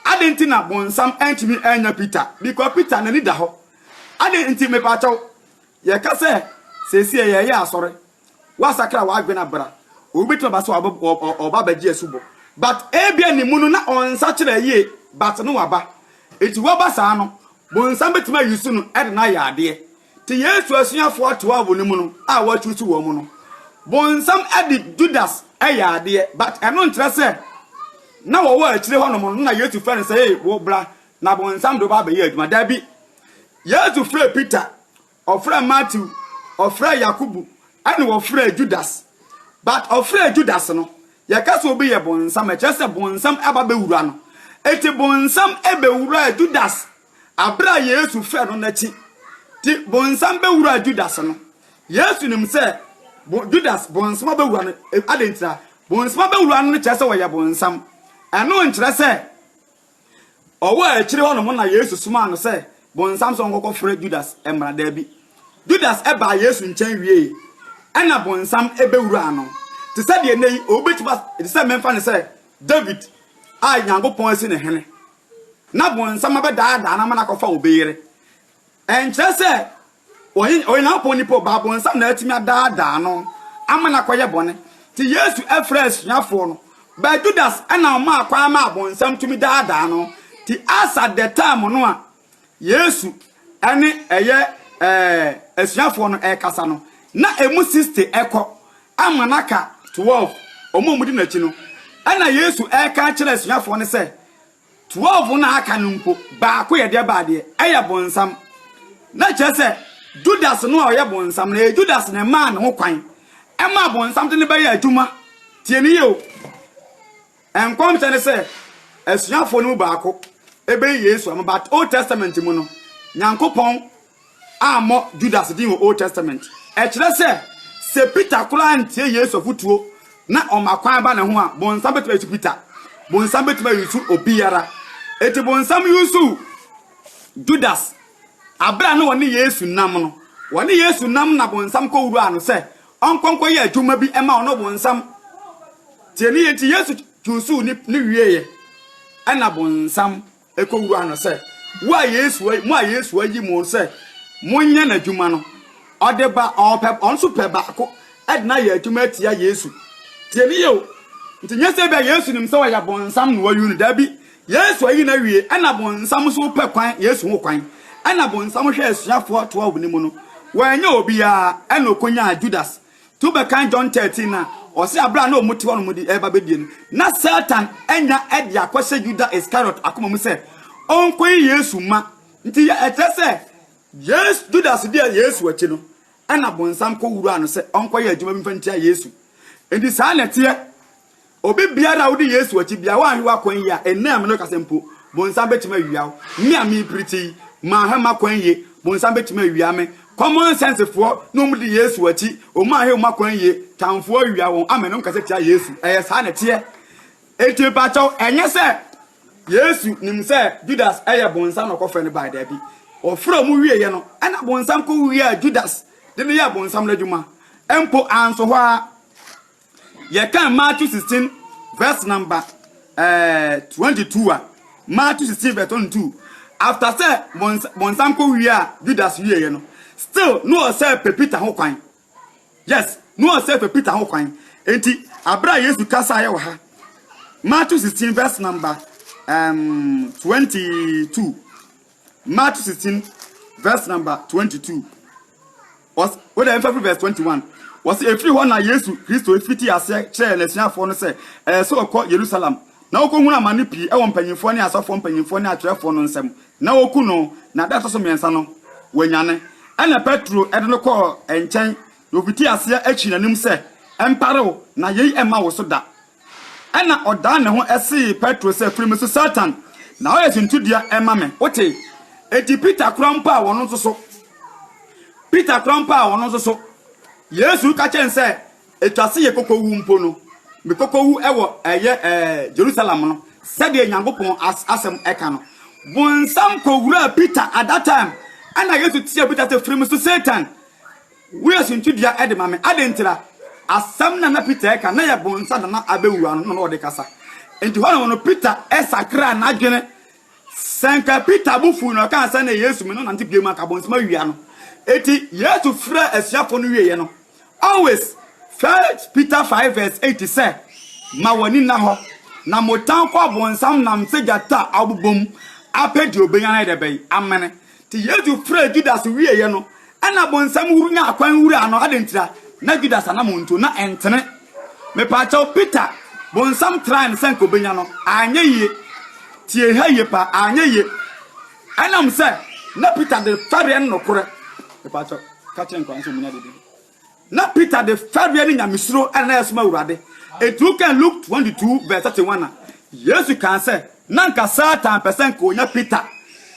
Adɛn nti na bonsam antumi annya Peter, because Peter n'ani da hɔ. Adɛn nti, mepaakyɛw, yɛka sɛ seesie yɛreyɛ asɔre, Wasakra w'adwene a bra. Obi betumi aba sɛ ɔba ɔba abɛgye asubɔ. But ebia ne mu no na ɔnsakyera yie but na waba. Nti waba saa no, bonsam betumi a use no de no ayɛ adeɛ. Te Yesu asuafoɔ 12 no mu no a wa choose wɔn no, bonsam de Judas yɛ adeɛ but ɛno nkyerɛ sɛ na wɔwɔ akyire hɔ nom no na Yesu frɛ no sɛ ee wo bra na bonsam de wo ba abɛyɛ adwuma. Dabi. Yesu frɛɛ Peter Ɔfrɛɛ Matthew, ɔfrɛɛ Yakobo, ɛna ɔfrɛɛ Judas. But ɔfrɛɛ Judas no, yɛka sɛ obi yɛ bonsam a, ɛkyerɛ sɛ bonsam aba bɛwura no. Enti bonsam bɛwuraa Judas aberɛ a Yesu frɛɛ no no akyi. Nti bonsam bɛwuraa Judas no, Yesu nim sɛ Judas bonsam abɛwura no. Adɛn ntira? Bonsam abɛwura no no kyerɛ sɛ ɔyɛ bonsam. Ɛno nkyerɛ sɛ Ɔwɔ a akyire hɔ nom na Yesu somaa no sɛ bonsam sɛ ɔnkɔkɔ frɛ Judas mmra daabi. Judas baa Yesu nkyɛn wiee ɛna bonsam bɛwuraa no. Te sɛ deɛ nnɛ yi obi bɛtumi as te sɛ memfa no sɛ David a Nyankopɔn asi no hene na bonsam abɛdaadaa no ama no akɔfa obi yere Ɛnkyerɛ sɛ Onyankopɔn nipa o, Ɔbonsam na atumi adaadaa no ama no akɔyɛ bɔne. Enti Yesu frɛɛ asuafoɔ no, but Judas na ɔmaa kwan ma Ɔbonsam tumi daadaa no. Enti as at the time no a Yesu ne ɛyɛ asuafoɔ no ɛrekasa no, na ɛmu 60 ɛkɔ ama no aka 12, wɔn a wɔdi n'akyi no. Ɛna Yesu ɛreka akyerɛ asuafoɔ no sɛ, Twelve no a aka no mpo, baako yɛ deɛ baa deɛ, ɛyɛ bonsam. Na kyerɛ sɛ, Judas no a ɔyɛ bonsam no, ɛyɛ Judas na ɛmaa ne ho kwan, ɛmaa bonsam de no bɛyɛɛ adwuma. Tie no yie o. Nkɔmhyɛ no sɛ, asuafoɔ no mu baako bɛyi Yesu ama, but Old Testament mu no, Nyankopɔn. ammɔ Judas din wɔ Old Testament. Ɛkyerɛ sɛ, sɛ Peter koraa antie Yesu afotuo na ɔma kwan ba ne ho a, bonsam bɛtumi ayusu Peter. Bonsam bɛtumi ayusu obiara. Enti bonsam yusuu Judas berɛ a na ɔne Yesu nam no. Ɔne Yesu nam na bonsam kɔwuraa no sɛ ɔnkɔ nkɔyɛ adwuma bi ma ɔno bonsam. Tie ne yɛ nti Yesu yusuu ne wieeɛ ɛna bonsam. kɔwuraa no sɛ, Wo a Yesu, mo a Yesu ayi mo sɛ monyɛ n'adwuma no, ɔde ba, ɔpɛ, ɔno nso pɛ baako de no ayɛ adwuma atia Yesu. Tie ne yɛ o. Nti nyɛ sɛ bia Yesu nim sɛ ɔyɛ bonsam na wayi no, daabi. Yesu ayi no awie, ɛna bonsam nso pɛ kwan, Yesu ho kwan. Ɛna bonsam hwɛ asuafoɔ 12 no mu no, wanyɛ obiara, ɛna ɔkɔnyaa Judas. To bɛkan John thirteen no a, ɔse aberɛ a na wɔn te hɔ nom de reba bɛdie no, na Satan anya de akɔhyɛ Yuda Iskariot akoma mu sɛ ɔnkɔyi Yesu mma. Nti ɛkyerɛ sɛ Yesu, Judas deɛ Yesu akyi no, ɛna bonsam kɔwuraa no sɛ ɔnkɔyɛ adwuma bi mfa ntia Yesu. Nti saa na ɛteɛ Obi biara a odi Yesu akyi biara, woanhwɛ w'akwan yie a, ɛnnɛ a me ne wo rekasa mpo, bonsam bɛtumi awia wo. Me a merepirikyi yi, manhwɛ m'akwan yie, bonsam bɛtumi awia me. Common sense foɔ ne wɔn di Yesu akyi, wɔn anhwɛ wɔn akwan yie, tamfoɔ awia wɔn ama ne nkasa tia Yesu. Ɛyɛ saa na ɛteɛ. Enti mepakyɛw, ɛnyɛ sɛ Yesu nim sɛ Judas yɛ bonsam na ɔkɔfrɛ no bae, daabi. Ɔfrɛ wɔn wieeɛ no, ɛna bonsam kɔwiaa Judas de no yɛɛ bonsam no adwuma. Mpo anso hɔ ara, Yɛkan Matthew sixteen verse number twenty two a, Matthew sixteen verse twenty two, after sɛ bɔnsam kɔ wie a Judas wie yɛ no, still no ɔsɛ pɛ Peter ho kwan. Yes, no ɔsɛ pɛ Peter ho kwan. Enti abira Yesu kasa yɛ wɔ ha. Matthew sixteen verse number um, twenty two. March sixteen verse number twenty two. Wɔs wode ɛmfa firi verse twenty one. Wɔsi efiri hɔ na Yesu Kristo fiti aseɛ kyerɛɛ n'asuafoɔ no sɛ ɛyɛ sɛ ɔkɔ Yerusalem na ɔkɔhunu amane pii ɛwɔ mpanyinfoɔ ne asɔfoɔ mpanyinfoɔ ne atwerɛfoɔ no nsam na wɔku no na da ɛtɔ so mmiɛnsa no wɔanyane. Ɛna Petro ɛde no kɔɔ ɛnkyɛn na ofiti aseɛ ɛtwii n'anim sɛ, Ɛmpare wo na yei ɛmma wo so da. Ɛnna ɔdan ne ho see Petro sɛ, Firi me so, Satan! Na woayɛ suntidua ma me. Wote? Enti Peter koraa mpo a ɔno nso so. Peter koraa mpo a ɔno nso so. Yesu reka kyerɛ no sɛ, ɛtwa se yɛkɔkɔwu mpo no, mekɔkɔwu wɔ ɛyɛ ɛɛ Jerusalem no, sɛdeɛ Nyankopɔn as, asɛm ɛka no. Bonsam kɔwuraa Peter at that time. Ɛnna Yesu teaa Peter sɛ, Firi me so, Satan! Woyɛ suntidua de ma me. Adɛn ntira? Asɛm no a na Peter reka no, na ɛyɛ bɔnsa na na abɛwu ano na ɔde kasa. Enti hɔnom no, Peter sakraa n'adwene. Sɛ anka Peter bo fuu na ɔkaa sɛ, Ɛnna Yesu, me ne wo nante bio mu, anka bɔnsam awi ano. Enti Yesu frɛɛ asuafoɔ no wieeɛ no, always, First Peter five verse eight sɛ, Ma w'ani nna hɔ, na motan kɔ abɔnsam nam sɛ gyata a ɔbobom apɛ deɛ ɔbɛnya no ayɛ dɛ bɛn amene. Ntsi Yesu frɛɛ Judas wieeɛ no, nna bɔnsam wur nyaa kwan wuraa no. Adɛn ntira? Nna Judas anamɔn ntu, nna ɛnntene. Mepaakyɛw, Peter, bɔnsam traa no sɛ nka obenya no? Annyɛ yie. Tsie ha yie paa, annyɛ yie. Ɛnam sɛ nna Peter de fɛreɛ no nokorɛ. Mepaakyɛw, ka kyerɛ nkwadaa no sɛ wɔnya biribi. Na Peter de fɛreɛ ne nyamesuro na na ɛresom Awurade. Enti wokan Luke twenty two verse thirty one a, Yesu kaa sɛ, Na anka Satan pɛ sɛ anka ɔnya Peter,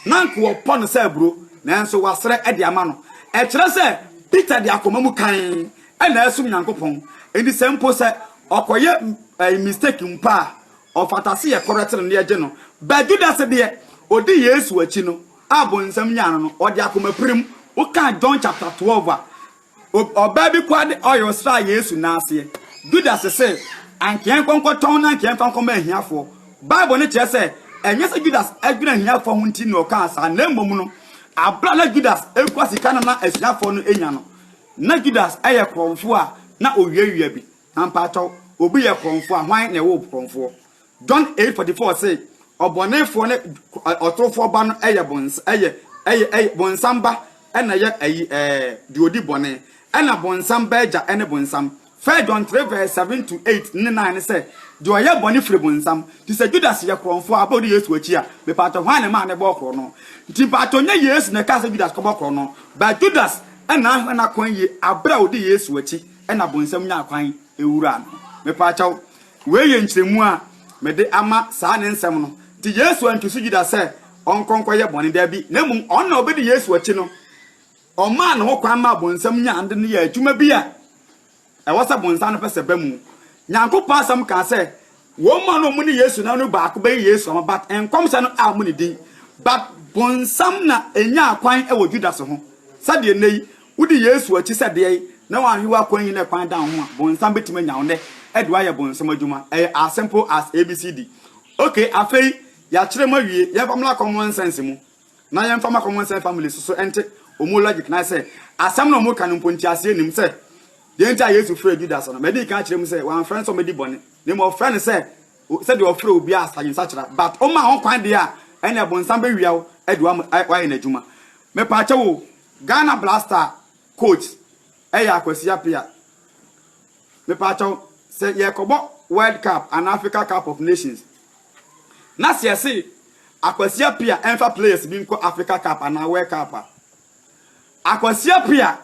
na anka wɔpɔ no sɛ aburo, nanso wasrɛ de ama no. Ɛkyerɛ sɛ Peter de akoma mu kann na ɛresom Nyankopɔn. Enti sɛ mpo sɛ ɔkɔyɛ mistake mpo a, ɔfata sɛ yɛkɔrɛte no na yɛgye no. But Judas deɛ, ɔdi Yesu akyi no, a bonsam nyaa no no, ɔde akomapirim wokaa John chapter twelve a, ɔbaa bi kɔa de oil sraa Yesu nan aseɛ. Judas se, Anka yɛnkɔ nkɔtɔn na anka yɛmfa nkɔma ahiafoɔ. Bible no kyerɛ sɛ ɛnyɛ sɛ Judas adwene ahiafoɔ ho nti na ɔkaa saa, na mmom no, abere a na Judas kura sika no na asuafoɔ no nya no, na Judas yɛ korɔmfoɔ a na owiawia bi. Na mpaatɔw, obi yɛ korɔmfoɔ a, hwan na ɛwoo korɔmfoɔ? John eight forty four se, Ɔbɔnefoɔ ne ɔtorofoɔ ba no yɛ bons, yɛ, yɛ, yɛ, bonsam ba na ɛyɛ ayi, ɛɛ, deɛ ɔdi bɔne. Ɛna bonsam ba agya ne bonsam. First John three verse seven to eight ne nine ne sɛ, Deɛ ɔyɛ bɔne firi bonsam. Nti sɛ Judas yɛ korɔnfoɔ a, aba ɔdi Yesu akyi a, mepaatɔ hwan na ɛmaa ne bɔɔ korɔno? Nti mpaatɔ nyɛ Yesu na ɛkaa sɛ Judas kɔbɔ korɔno, but Judas na ahwɛ n'akwan yie aberɛ a ɔdi Yesu akyi, ɛna bonsam nyaa kwan. Wura no. Mepaakyɛw, wei yɛ nkyerɛmu a mede ama saa ne nsɛm no. Nti Yesu antu so Judas sɛ ɔnkɔ nkɔyɛ bɔne, dabi, na mmom ɔno na ɔbɛdi Yesu akyi no, ɔmaa ne ho kwan maa bonsam nyaa no de no yɛɛ adwuma bi a ɛwɔ sɛ bonsam no pɛ sɛ ɛba mu. Nyankopɔn Asɛm kaa sɛ Wɔn mu a na wɔn ne Yesu nam no baako bɛyɛ Yesu ama, but nkɔmhyɛ no ammo ne din. But bonsam na enyaa kwan wɔ Judas ho. Sɛdeɛ nnɛ yi, wodi Yesu akyi sɛ deɛn na wanhwe wo akwan yi na kwan da wo ho a, bonsam bɛtumi anya wo nnɛ de wo ayɛ bonsam adwuma. Ɛyɛ as simple as ABCD. Okay, afei, yɛakyerɛ mu awie, yɛmfa mmra common sense mu. Na yɛn fa ma common sense family so so ɛnte ɔmo logic nan sɛ asɛm na ɔmo ka no mpo nteaseɛ nnim sɛ deɛ nti a Yesu frɛɛ Judas no madi kan akyerɛ mu sɛ wamfrɛ no sɛ ɔmɛdi bɔne na mmom ɔfrɛ no sɛ sɛdeɛ ɔfrɛ obiara a sage nsakyera but ɔma ho kwan deɛ a ɛne ɛbonsam bɛwia wo ɛde wayɛ n'adwuma mepaakyɛ wo Ghana blaster coach ɛyɛ akwasi apia mepaakyɛ wo sɛ yɛkɔbɔ world cup and Africa cup of nations Na sɛ yɛse akwasia pia ɛmfa players bi nkɔ Africa cup anaa world cup a, akwasia pia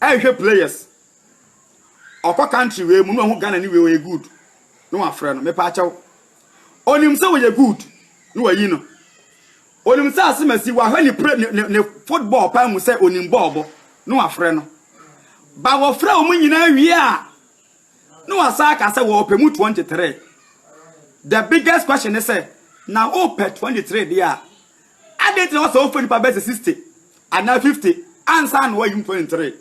ɛnhwɛ players. Ɔkɔ country wei mu na ɔho Ghana ni wei ɔyɛ good na wafrɛ no mepa akyɛw. Onim sɛ ɔyɛ good na wayi no. Onim sɛ asemasi wahwɛ ne, play, ne, ne, ne football paa mu sɛ onim bɔɔl bɔ na wafrɛ no. Ba wɔfrɛ wɔn nyinaa wie a, Na wasan aka sɛ wɔpɛ mu 23. The biggest question ne sɛ, na wopɛ 23 deɛ a, adɛn nti na wɔsɛ wofɛ nipa bɛsɛ 60 anaa 50 ansa na wɔayi mu 23?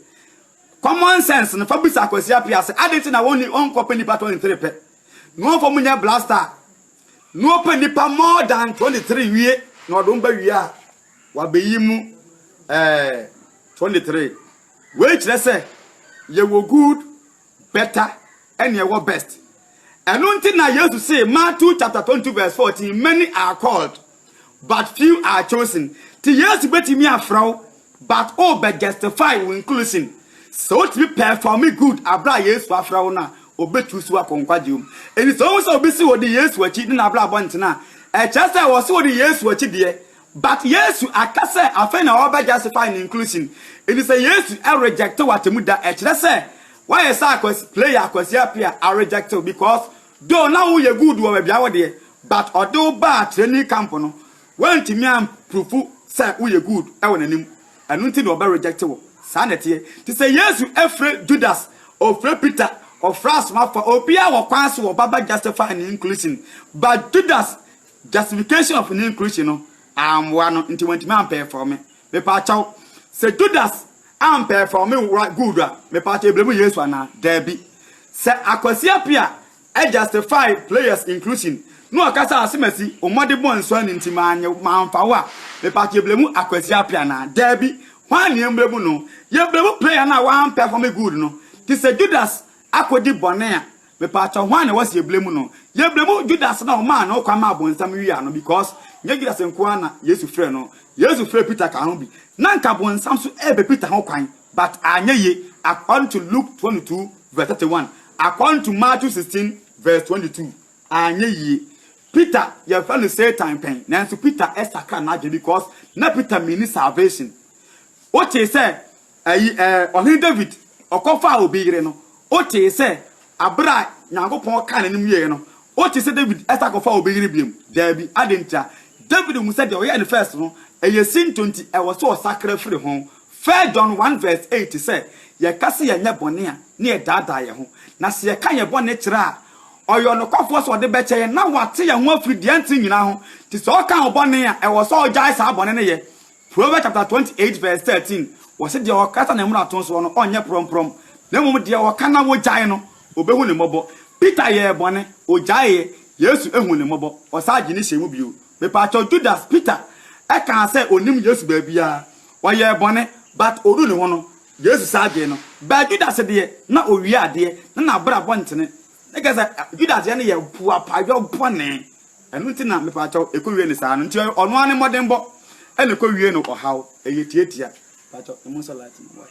Common sense no fa bisa Akwasi Appiah sɛ adɛn nti na wɔnkɔpɛ nipa 23 pɛ na wɔmfa mu nyɛ blaster a na wɔpɛ nipa more than 23 wie na wɔde wɔn bɛwie a wɔabɛyi mu eh, 23. Wei kyerɛ sɛ yɛwɔ good, better, ɛne ɛwɔ best. Ɛno nti na Yesu see Matthew chapter 22 verse 14 many are called but few are chosen. Nti Yesu bɛtumi afrɛ wo but wo bɛ justify wo inclusion. Sɛ wo tumi performe good aberɛ a Yesu afrɛ wo no a, wo bɛ choose wo akɔ nkwagyeɛ mu. Nti sɛ wo hu sɛ obi se odi Yesu akyi ne n'abrabɔ ntena a, ɛkyerɛ sɛ ɔse odi Yesu akyi deɛ But Yesu aka sɛ afei na ɔrebɛ justify ne inclusion. Nti sɛ Yesu rejecte wo atemmu da ɛkyerɛ sɛ woayɛ sɛ akwasi player akwasi apia a rejecte wo because though na wo yɛ good wɔ baabi a wo deɛ but ɔde wo baa training camp no wantumi an proof sɛ wo yɛ good wɔ n'anim ɛno nti na ɔbɛ rejecte wo saa na ɛteɛ nti sɛ Yesu fre Judas ɔfre Peter ɔfre asomafo a obiara wɔ kwan so ɔba bɛ justify ne inclusion but Judas Justification of ne inclusion no amboa no nti wantumi ampɛɛfɔme. Mepaakyɛw, sɛ Judas ampɛɛfɔme wora good a, mepaakyɛw yɛblame Yesu anaa? Daabi. Sɛ Akwasi Appiah justify players inclusion na ɔka sɛ Asemasi wo mmɔde bɔn nso ani nti mannye wo, mamfa wo a, mepaakyɛw yɛblame Akwasi Appiah anaa? Daabi. Hwan na yɛmblame no? Yɛblame player no a wampɛɛfɔme good no. Nti sɛ Judas akɔdi bɔne a, Mepaakyɛw hwan na wɔse yɛbla mu no? Yɛbla mu Judas na ɔmaa ne ho kwan maa bonsam wiaa no because nyɛ Judas nko ara na Yesu frɛɛ no, Yesu frɛɛ Peter kaa ho bi. Na nka bonsam nso ɛɛpɛ Peter ho kwan but anyɛ ye according to Luke twenty two verse thirty one, according to Matthew sixteen verse twenty two anyɛ yie. Peter yɛfrɛ no Satan pɛn nanso Peter ɛsakra n'adwene because na Peter minni salvation. Wotee sɛ Ayi eh, Ɔhene David, ɔkɔfaa obi yere no, wotee sɛ bere a Nyankopɔn kaa n'anim wieeɛ no, wotee sɛ David san kɔfaa obi yere biom? Daabi. Adɛn ntia? David hu sɛ deɛ ɔyɛɛ no first no, ɛyɛ sintɔ nti ɛwɔ sɛ ɔsakra firi ho. First John one verse eight sɛ, Yɛka sɛ yɛnyɛ bɔne a, na yɛdaadaa yɛn ho, na sɛ yɛka yɛn bɔne kyerɛ a, ɔyɛ ɔnokwafoɔ sɛ ɔde bɛkyɛ yɛn, na wate yɛn ho afiri deɛ ɛnteɛ nyinaa ho. Nti sɛ ɔka wo bɔne a, ɛwɔ sɛ ɔgyae saa bɔne no yɛ. Proverbs chapter-twenty-eight verse thirteen, wɔse, Deɛ ɔkata ne mmarato soɔ no, ɔnyɛ prɔmprɔm, na mmom deɛ ɔka na wɔgyae no, wɔbɛhu no mmɔbɔ. Peter yɛɛ bɔne, ɔgyaeeɛ, Yesu huu no mmɔbɔ, ɔsan gyee no hyɛɛ mu bio. Mepaakyɛw, Judas, Peter, kaa sɛ ɔnnim Yesu baabiara, ɔyɛɛ bɔne, but ɔduu ne ho no, Yesu san gyee no. But Judas deɛ, na ɔwia adeɛ, na n'abrabɔ ntene. Na kyerɛ sɛ, Judas deɛ no yɛ boapayɔ bɔne. Ɛno nti na mepaakyɛw ɛkɔwie no saa no nti ɔno ara ne mmɔdenbɔ ɛna ɛkɔwie no ɔhaw, ɛyɛ tiatia, paakyɛw ɛmu nsɔ light no why,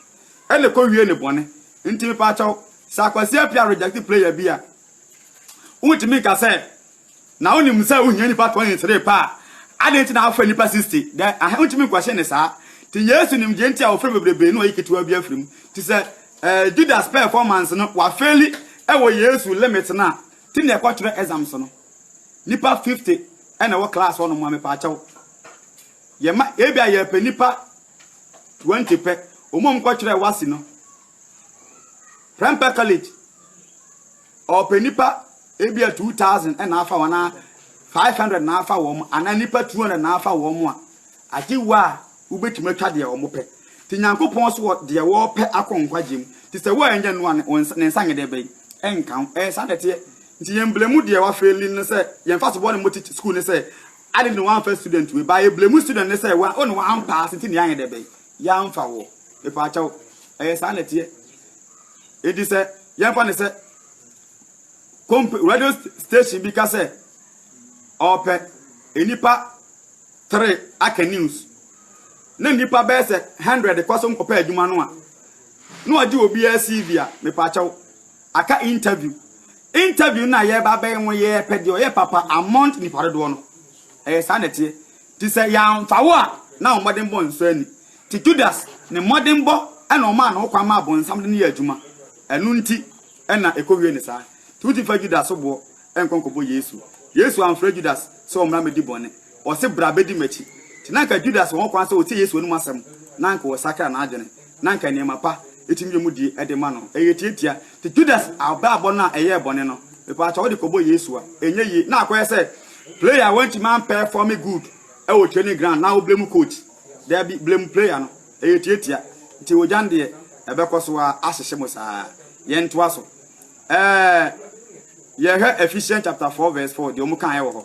ɛna ɛkɔwie no bɔne nti mepaakyɛw sɛ Akwasi Appiah reject player bi a wontumi nka sɛ na wonim sɛ wohia nipa 23 pɛ a adɛn nti na afrɛ nipa 60 dɛ ahe wontumi nkɔhye ne saa nti Yesu nim gye nti a wɔfrɛ bebrebe na ɔyi ketewa bi afiri mu nti sɛ eh, Judas performance no wafeli ɛwɔ Yesu limit no a ti na ɛkɔtwerɛ exams no Nipa fifty ɛna ɛwɔ class hɔ nom a mepaakyɛw. Yɛ ma ebi a yɛpɛ nipa twenty pɛ. Wɔn a wɔn kɔ kyerɛ wasi no. Prempeh college ɔpɛ nipa ebi a two thousand ɛna afa wɔn a five hundred na afa wɔn anaa nipa two hundred na afa wɔn a. Agye wo a wobɛtumi atwa deɛ wɔn pɛ. Ti Nyankopɔn so wɔ deɛ wɔpɛ akɔ nkwagye mu. Ti sɛ wo a ɛnyɛ noa ne nsa ne nsa nyɛ dɛ bɛyi ɛnka ho. Ɛyɛ saa na ɛteɛ. Nti yɛn blemu deɛ wa fail no sɛ yɛn fa so bɔ ne mo teach school ne sɛ adɛn nti na wanfa student wei ba yɛ blemu student ne sɛ wa one wa ampaase nti na yɛanyɛ dɛ bɛn yɛanfa wɔ mepaakyɛw ɛyɛ saa na ɛteɛ enti sɛ yɛnfa ne sɛ komp radio station bi ka sɛ ɔpɛ nnipa three aka news na nnipa bɛyɛ sɛ hundred kɔ so nkɔpɛ adwuma no a na ɔgye obiara cv a mepaakyɛw Aka interview interview na yɛba bɛyɛ ho yɛɛ pɛ deɛ ɔyɛ papa amount nipa dodoɔ no ɛyɛ saa na ɛteɛ ti sɛ yɛamfa wo a na ɔmmɔden bɔ nsɔ ani ti Judas ne mmɔden bɔ ɛna ɔmaa ne ho kwan maa bonsam de ne yɛ adwuma ɛno nti ɛna ɛkɔ wie ne saa ti wotumi fa Judas so boɔ ɛnkɔ nkɔbɔ Yesu Yesu amfrɛ Judas sɛ ɔmmra mmɛdi bɔne ɔse bra bɛdi makyi ti na nka Judas wɔ ho kwan sɛ ɔtie Yesu anom asɛm na nka ɔsakra n'adwene na anka nneɛma pa betumi yɛ mu di de ma no. Ɛyɛ tiatia. Te Judas abrabɔ no a ɛyɛɛ bɔne no, mepatwa wode kɔbɔ Yesu a, ɛnyɛ yie. Na akɔyɛ sɛ player a wantumi ampɛɛfɔme good wɔ training ground na wo blame coach. Daabi, blame player no. Ɛyɛ tiatia. Nti ogya no deɛ, ɛbɛkɔ so ara ahyehye mo saa. Yɛntoa so. Ɛɛ, yɛhwɛ Ephesians chapter 4 verse 4, deɛ wɔn kaeɛ wɔ hɔ.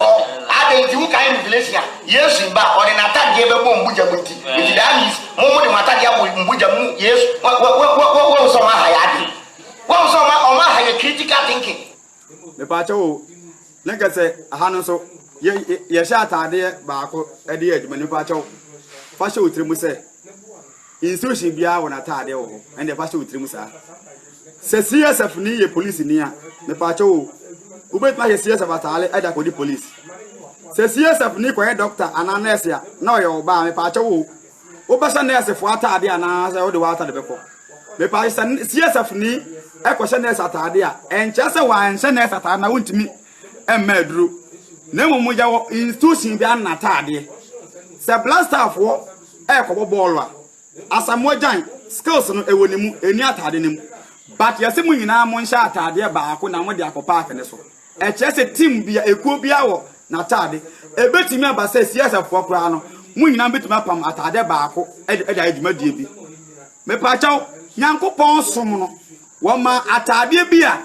Adɛn nti wokae Revelation a Yesu ba a ɔde n'atadeɛ bɛbɔ mbogya mu nti? Nti that means mo mo de mo atadeɛ abɔ mbogya mu Yesu wa wa wa wa wa wahu sɛ ɔmo aha yɛ adwene wahu sɛ ɔmo ɔmo aha yɛ critical thinking. Mepaakyɛw o, na nka sɛ aha no nso yɛ yɛhyɛ ataadeɛ baako de yɛ adwuma no mepaakyɛw fa hyɛ wo tiri mu sɛ institution biara wɔ n'ataadeɛ wɔ hɔ ɛndeɛ fa hyɛ wo tiri mu saa. Sɛ CSF ni yɛ police ni a, mepaakyɛw o, wobɛtumi ahyɛ CSF ataare de akɔdi police. Sɛ CSF ni kɔyɛ doctor anaa nurse a, na ɔyɛ ɔbaa a, mepaakyɛw o, wobɛhyɛ nurse foɔ ataade anaa sɛ wode w'atade bɛkɔ. Mepaakyɛw sɛ CSF ni kɔhyɛ nurse ataade a, ɛnkyerɛ sɛ wanhyɛ nurse ataare na wontumi mma aduro. Na mmom yɛwɔ institution bi ano n'ataadeɛ. Sɛ black star foɔ ɛrekɔbɔ bɔɔlo a, Asamoah Gyan, skills no ɛwɔ ne mu, ɛnni ataade no mu. But yɛse mo nyinaa monhyɛ ataadeɛ baako na mode akɔ park no so. Ɛkyerɛ sɛ team biara, ekuo biara wɔ n'ataade. Ɛbɛtumi aba sɛ CSF foɔ koraa no, mo nyinaa bɛtumi apam ataade baako de ayɛ dwumadie bi. Mepaakyɛw, Nyankopɔn som no, wɔmaa ataadeɛ bi a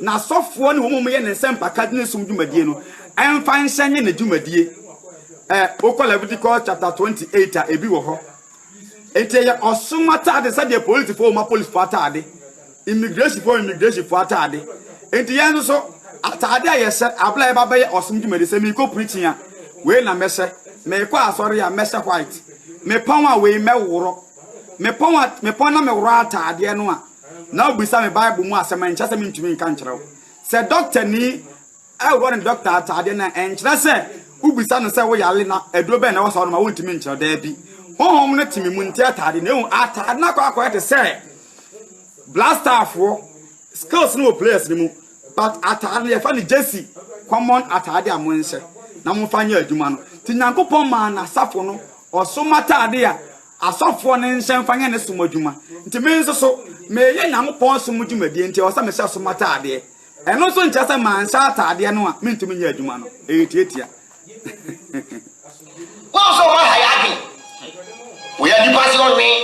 n'asɔfoɔ ne wɔn a wɔyɛ ne nsɛmpaka de ne som dwumadie no mfa nhyɛ nyɛ n'adwumadie. Ɛ, wokɔ Levitical chapter 28 a, ɛbi wɔ hɔ. Enti ɛyɛ ɔsom atade sɛdeɛ polisifo wɔn apolisifo atade, immigrationfo immigrationfo atade. Enti yɛn nso so atade a yɛhyɛ abla yɛba bɛyɛ ɔsom dwumadi sɛ meekɔ preaching a wei na mɛhyɛ, meekɔ asɔre a mɛhyɛ white, mepɔn a wei mɛworɔ, mepɔn a mepɔn na meworɔ atadeɛ no a na wobisa me Bible mu asɛm a nkyɛ sɛ mentumi nka nkyerɛ wo. Sɛ dɔktani Ɛhɔ no dɔkta atade no nkyerɛ sɛ wobisa no sɛ woyare na aduro bɛn na ɛwɔ sɛ ɔnom a wontumi nkyerɛ. Dabi. Honhom no te me mu, nte atade no. Ehu, atade no akɔ akɔyɛ te sɛ blastafoɔ, skills no wɔ players no mu, but atade no yɛfa no Jesse, common atade a monhyɛ na momfa nyɛ adwuma no. Nti Nyankopɔn maa n'asafo no ɔsom atade a asɔfoɔ no nhyɛ mfa nyɛ ne som adwuma. Nti me nso so, meyɛ Nyankopɔn som dwumadie nti ɛwɔ sɛ mehyɛ som atadeɛ. Ɛno nso nkyerɛ sɛ manhyɛ ataadeɛ no a mentumi nyɛ adwuma no. Ɛyɛ tiatia. Wɔn nso wɔn aha yɛ adwene. Wɔyɛ nnipa sɛ ɔnwen.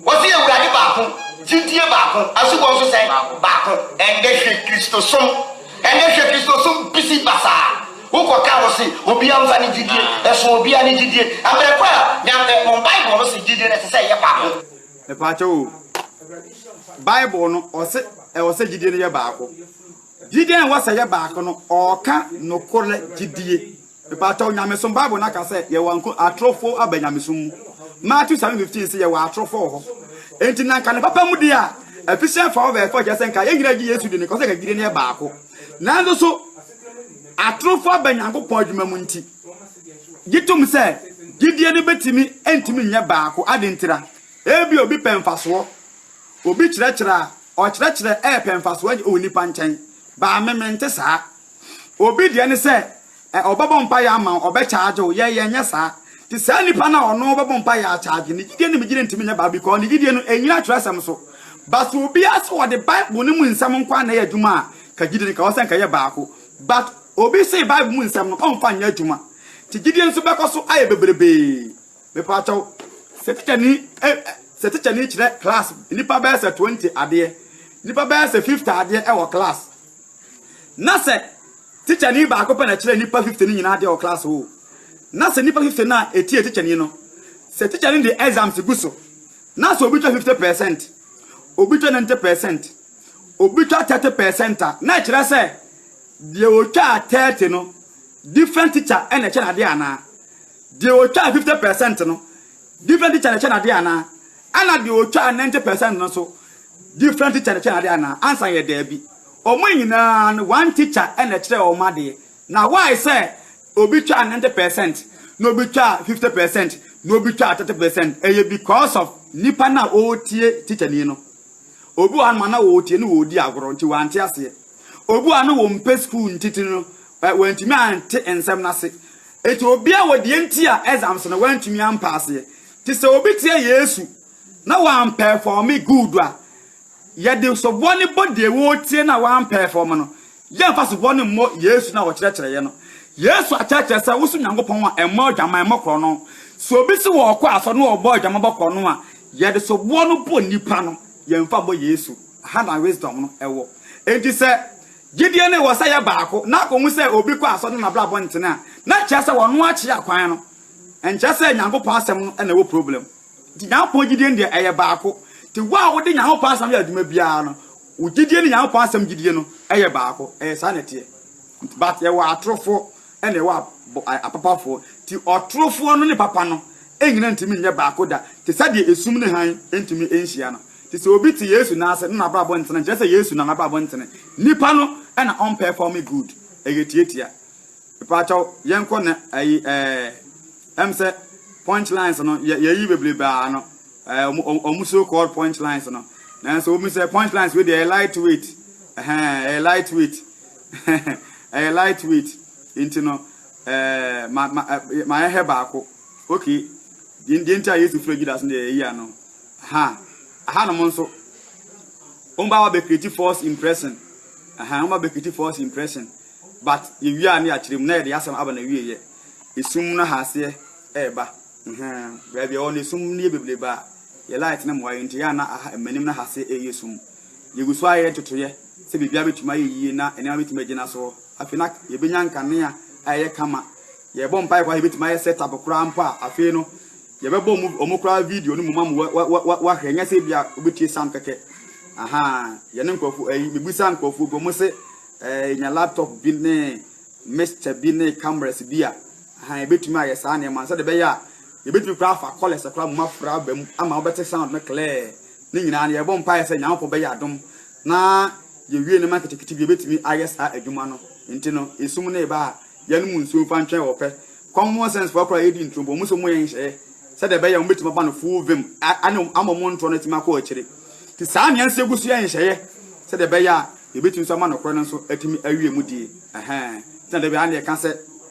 Wɔse Awurade baako, gyidie baako, asubɔ nso sɛ baako. Ɛndɛ hwɛ Kristosom. Ɛndɛ hwɛ Kristosom pisi basaa. Wokɔka hɔ se obiara mfa ne gyidie nso obiara ne gyidie. Mmerɛ korɔ a Nyame, Bible no se gyidie no ɛsɛ sɛ ɛyɛ baako. Mepaakyɛw o. Bible no ɔse ɛwɔ sɛ gyidie no yɛ baako. Gyidie a ɛwɔ sɛ yɛ baako no, ɔɔka nokorɛ gyidie. Mepaakyɛw nyamesom Bible no aka sɛ yɛwɔ nko atorofo aba nyamesom mu. Matthew 7:15 se yɛwɔ atorofo wɔ hɔ. Enti na nka ne papa mu deɛ a, efficient for over effort, kyerɛ sɛ nka yɛn nyinaa gye Yesu di no, nka ɔsɛ nka gyidie no yɛ baako. Nanso so atorofo aba Nyankopɔn adwuma mu nti, Gye tom sɛ gyidie no bɛtumi ntumi nyɛ baako. Adɛn ntira? Ebia obi pɛ mfasoɔ. Obi kyerɛkyerɛ a, ɔkyerɛkyerɛ repɛ mfasoɔ agye wɔ nnipa nkyɛn. Baa me, mente saa. Obi deɛ ne sɛ ɔbɛbɔ mpaeɛ ama wo, ɔbɛkyaagye wo. Yɛn, yɛnyɛ saa. Nti saa nipa no a ɔno bɛbɔ mpaeɛ akyaagye, ne gyidie ne me gyidie ntumi nyɛ baako because ne gyidie no ɛnyina twerɛsɛm so. But sɛ obiara sɛ ɔde Bible no mu nsɛm nko ara na ɛyɛ adwuma a, ka gyidie no ka hɔ sɛ nka ɛyɛ baako. But obi see bible mu nsɛm no ɔmfa nyɛ adwuma nti gyidie nso bɛkɔ so ayɛ bebrebee. Mepaakyɛw sɛ tikyani sɛ tikyani kyerɛ class nnipa bɛyɛ sɛ twenty adeɛ, nnipa bɛyɛ sɛ fifty adeɛ ɛwɔ class na sɛ tikyani baako pɛ na ɛkyerɛ nnipa fifty no nyinaa adeɛ wɔ class hɔ o. Na sɛ nnipa fifty no a ɛtie tikyani no, sɛ tikyani de exams gu so na sɛ obi twa fifty percent, obi twa ninety percent, obi twa thirty percent a na ɛkyerɛ sɛ deɛ ɔtwaa thirty no different teacher na ɛkyɛ no adeɛ anaa? Deɛ ɔtwaa fifty percent no different teacher na ɛkyɛ no adeɛ anaa? Ɛna deɛ ɔtwaa ninety percent no nso different teacher na ɛkyɛ no adeɛ anaa? Ansa yɛ daabi. Wɔn nyinaa no one teacher na ɛkyerɛ wɔn adeɛ. Na why sɛ obi twaa ninety percent na obi twaa fifty percent na obi twaa thirty percent? Ɛyɛ because of nipa no a ɔretie teacher ni no. Obi wɔ hɔ a na na ɔretie na ɔredi agorɔ nti wante aseɛ. Obi wɔ hɔ a na ɔmpɛ sukuu nti tiri no wantumi ante nsɛm no ase. Nti obiara wɔ deɛ nti a exams no wantumi ampaaseɛ. Nti sɛ obi teɛ Yesu na wampɛɛfɔme good a, yɛde soboɔ no bɔ deɛ ɔretie no a wampɛɛfɔme no. Yɛmfa supɔw no mmɔ Yesu no a wɔkyerɛkyerɛeɛ no. Yesu akyerɛkyerɛ sɛ woso Nyankopɔn a ɛmmɔ adwamammɔ korɔno. Sɛ obi se wɔ ɔkɔ asɔre na ɔbɔ adwamammɔ korɔno a, yɛde soboɔ no bɔ nnipa no, yɛmfa mmɔ Yesu. Aha na wisdom no wɔ. Enti sɛ gyedie no wɔ sɛ yɛ baako na akɔhu sɛ obi kɔ asɔre na n'abrabɔ ntene a, na kyerɛ sɛ ɔno akyea kwan no. Ɛnkyerɛ sɛ Nyankopɔn asɛm no na ɛwɔ problem. Nti Nyankopɔn gyedie no deɛ ɛyɛ baako. Nti wo a wode Nyankopɔn asɛm yɛ adwuma biara no, Wo gyidie ne Nyankopɔn asɛm gyidie no yɛ baako, ɛyɛ saa na ɛteɛ. Nti but yɛwɔ atorofoɔ ɛna ɛwɔ apapafoɔ, nti ɔtorofoɔ no ne papa no nyina ntumi nyɛ baako da, te sɛ deɛ esum ne hann ntumi nhyia no. Nti sɛ obi te Yesu nan ase na n'abrabɔ ntene, nkyerɛ sɛ Yesu na n'abrabɔ ntene, nipa no na ɔmpɛɛfɔme good, ɛyɛ tiatia. Mpakyɛw yɛnkɔ na ayi ɛɛ ɛm sɛ punch lines no yɛ yɛyi bebrebe ara no. eh, wɔn so called punch lines no nanso wɔn sɛ punch lines wei deɛ ɛyɛ light weight ɛyɛ light weight ɛyɛ light weight nti no ɛɛ ma ma ma yɛ hɛ baako okay deɛ deɛ nti a yesu fira judas no deɛ ɛyi ano ha aha nom nso wɔn ba wa bɛ create false impression aha wɔn ba bɛ create false impression but yɛ wia ne yɛ akyerɛ mu na yɛ de asɛm aba na wie yɛ esum no ha aseɛ ɛɛba. Ɛhɛɛ, baabi a yɛwɔ no esum no yɛ bebrebe a, yɛ light no mmoa yɛn nti ɛyɛ a na aha, m'anim na ha se ɛreyɛ sum. Yɛgu so ara yɛyɛ totoeɛ sɛ biribiara bɛtumi ayɛ yie na nneɛma bɛtumi agyina soɔ. Afei na yɛbɛnya nkanea a ɛyɛ kama. Yɛrebɔ mpaeɛ koraa a yɛbɛtumi ayɛ set up koraa mpo a, afei no yɛbɛbɔ wɔn, wɔn koraa video no mu ma wɔn wa, wa, wa, wahwɛ. Ɛnyɛ sɛ ebia wobɛtie sound kɛkɛ. Ahaa, yɛne nkurɔfoɔ, ɛyi, mebusaa nkurɔfoɔ bi, wɔn se ɛɛ, yɛnya laptop bi ne mixture bi ne cameras bi a, Ahaa, yɛbɛtumi ayɛ saa nneɛma no sɛdeɛ ɛbɛyɛ a yɛbɛtumi koraa afa kɔlɛs koraa mmom afra aba mu ama wobɛte sound no clear. Ne nyinaa no, yɛbɔ mpaeɛ sɛ Nyankopɔn bɛyɛ adom na yɛwie nneɛma nketenkete bi a yɛbɛtumi ayɛ saa adwuma no. Nti no, esum no reba a, yɛnnom nsuo mfa ntwɛn wɔ pɛ. Common sense foɔ koraa a yɛdi ntorobɔ, wɔn nso wɔyɛ nhyehyɛeɛ sɛdeɛ ɛbɛyɛ a wɔbɛtumi aba no full vim a ɛne ama wɔn ntorɔ no atumi akɔ akyire. Nti saa na yɛn nso yɛgu so yɛ nhyehyɛeɛ sɛdeɛ ɛbɛyɛ a yɛbɛtumi nso ama nokorɛ no nso atumi awie mu die. Ɛhɛɛ. Nti na da biara na yɛka sɛ,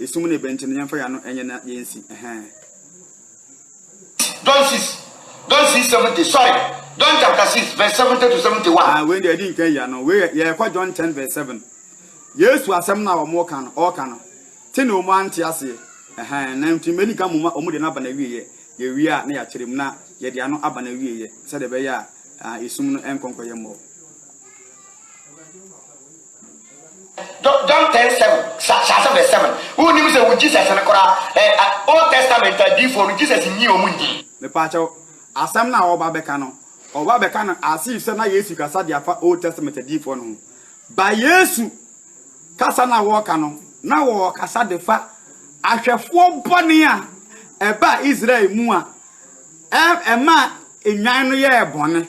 Esum na ebɛn nti no yɛmfa yɛano nyɛ na yɛnsi ɛhɛɛ. John six John six seventy sorry John chapter six verse seventy to seventy one. Ah wei deɛ ɛdi nka yia no wei yɛ ɛkɔ John ten verse seven Yesu asɛm no a wɔn ka no ɔɔka no te na wɔn ante aseɛ ɛhɛn na nti mɛdi nka moma wɔn deɛ no aba na wieɛ yɛ wie a na yɛakyerɛ mu na yɛde ano aba na wieɛ sɛdeɛ ɛbɛyɛ a esum no ɛnkɔ nkɔyɛ mmɔɔ. John ten seven, hyɛ hyɛ aseɛ brɛ seven. Wonim sɛ wo Jesus no koraa ɛ a Old Testament adiifoɔ no Jesus nyii ɔmo nnyii. Mepaakyɛw, asɛm no a ɔreba abɛka no, ɔreba abɛka no as if sɛ na Yesu rekasa de afa Old Testament adiifoɔ no ho. But Yesu kasa no a wɔreka no, na wɔrekasa de fa ahwɛfoɔ bɔne a ɛbaa Israel mu a ɛ ɛmaa nnwan no yɛɛ bɔne.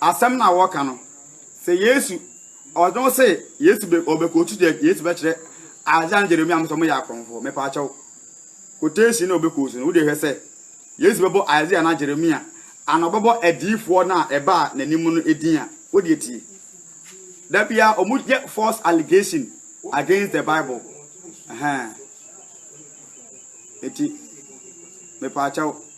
Asɛm no a wɔka no, sɛ Yesu, ɔdze no se Yesu bɛ ɔbɛkɔtu dɛ Yesu bɛkyerɛ Isaiah ne Jeremia mpo sɛ wɔyɛ akrɔnfoɔ. Mepaakyɛw, quotation no a ɔbɛkɔɔ su no, wode hwɛ sɛ Yesu bɛbɔ Isaiah anaa Jeremia anaa ɔbɛbɔ adiyifoɔ no a ɛbaa n'anim no din a? Wodeɛ tie. Da biara wɔyɛ false allegation against the Bible. Ɛhɛn. Eti, mepaakyɛw.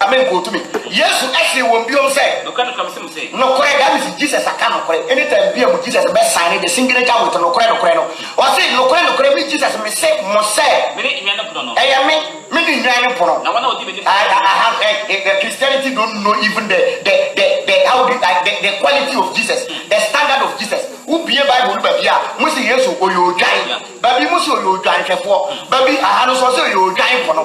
Amen kɔ otumi. Yesu see wɔn biom sɛ. Nokorɛ nokorɛ mese mo sɛ. Nokorɛ that means Jesus aka nokorɛ anytime bia mu Jesus bɛ signe the signature with nokorɛ nokorɛ no ɔse nokorɛ nokorɛ me Jesus mese mo sɛ. Mene nnwan no pono no. Ɛyɛ me mene nnwan no pono. Na wɔn a wɔdi m'ani so no bɛnya nkwa. Ah ah ah Christianity don't know even the the the the how do ah the the quality of Jesus the standard of Jesus wo bie bible no baabi a mo se Yesu ɔyɛ odwan baabi mo se ɔyɛ odwanhwɛfoɔ baabi aha no nso ɔse ɔyɛ odwan pono.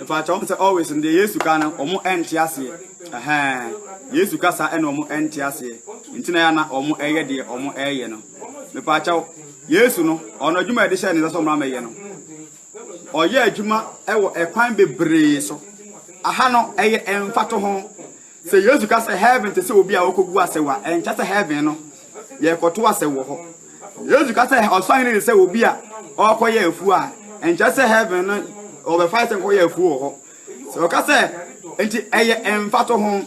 Ɛfa kyɛ wɔn sɛ always no deɛ Yesu ka no wɔn ɛnte aseɛ ɛhɛn Yesu kasa ɛna wɔn ɛnte aseɛ nti na yana wɔn ɛyɛ deɛ wɔn ɛyɛ no mepa kyɛw Yesu no ɔno adwuma yɛde hyɛ ne nsa sɛ wɔn amɛyɛ no ɔyɛ adwuma ɛwɔ ɛkwan bebree so aha no ɛyɛ ɛnfa to ho sɛ Yesu ka sɛ heaven te sɛ obi a ɔkɔgu asɛwa ɛnkyɛ sɛ heaven no yɛrekɔto asɛm wɔ hɔ. Yesu ka sɛ ɔsahene ne sɛ obi a ɔrekɔyɛ afuo a ɛnkyɛ sɛ heaven no ɔbɛfa sɛ nkɔyɛ afuo wɔ hɔ. Sɛ ɔka sɛ nti ɛyɛ mfato ho.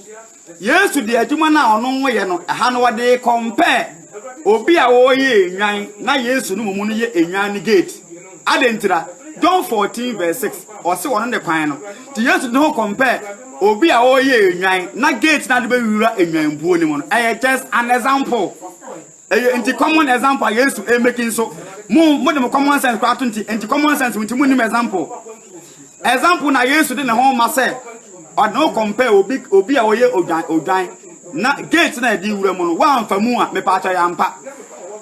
Yesu de adwuma no a ɔno yɛ no ɛha no ɔde kɔmpɛɛ obi a ɔreyɛ enwan na Yesu no mmom no yɛ enwan no gate. Adɛn ntira? John fourteen verse six ɔse ɔno ne kwan no nti Yesu ne ho compare obi a ɔreyɛ enwan na gate na de bɛwura enwan buo no mu no ɛyɛ just an example ɛyɛ nti common example a Yesu ɛmɛki nso mo mo de mo common sense koraa to nti nti common sense nti mo nim example Example na Yesu de ne ho ma sɛ ɔde ne ho compare obi obi a ɔyɛ odwan odwan na gate na ɛde wura mu no wamfa mu a mepa akyɛ yampa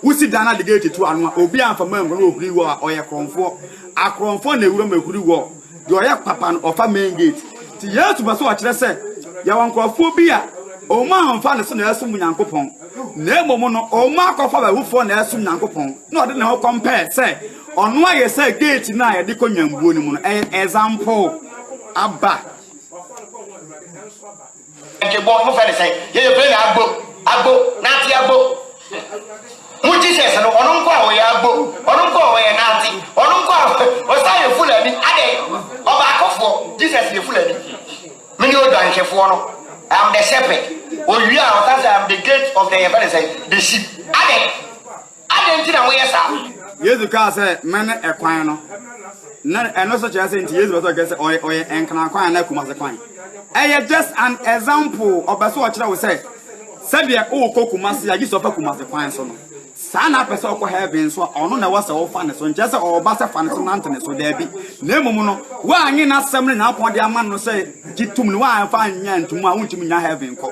wosi dan na de gate to ano a obi amfa mu angu no ohuri wɔ a ɔyɛ korɔnfoɔ akorɔnfoɔ na ewura mu ehuri wɔ deɛ ɔyɛ papa no ɔfa main gate ti Yesu pɛ sɛ ɔkyerɛ sɛ yɛwɔ nkorɔfoɔ bi a wɔn amfa ne so na ɛsom Nyankopɔn na mmom no wɔn akɔfa bɛhufoɔ na ɛsom Nyankopɔn na ɔde ne ho compare sɛ Ɔno ayɛ sɛ gate no a yɛde kɔ nyambuo no mu no, ɛyɛ example aba. Nkebɔ mo fɛ ne sɛn yɛyɛ plane a agbo agbo nate agbo mo Jesus no ɔno nko a ɔyɛ agbo ɔno nko a ɔyɛ nate ɔno nko a ɔsan yɛ fulani adɛ ɔbaakofoɔ Jesus yɛ fulani mene odwanhwɛfoɔ no I am the shepherd owie a ɔsan sɛ I am the gate of the yɛfɛ ne sɛn the sheep adɛ Adɛn nti na moyɛ saa? Yesu kaa sɛ, Mene ɛkwan no. Na ɛno nso kyerɛ sɛ nti Yesu bɛ sɛ ɔkɛ sɛ ɔyɛ ɔyɛ ɛnkran kwan anaa kumase kwan. Ɛyɛ just an example ɔbɛ sɛ ɔkyerɛ wo sɛ sɛdeɛ wokɔ kumase a gye sɛ ɔfa kumase kwan so no saa na apɛ sɛ ɔkɔ heaven nso a ɔno na ɛwɔ sɛ ɔfa ne so nkyerɛ sɛ ɔba sɛ fa ne so nante ne so daabi na mmom no woanye n'asɛm no nyinaa pɔn de ama no sɛ gye tom no woamfa nyɛ ntom a wontumi nya heaven kɔ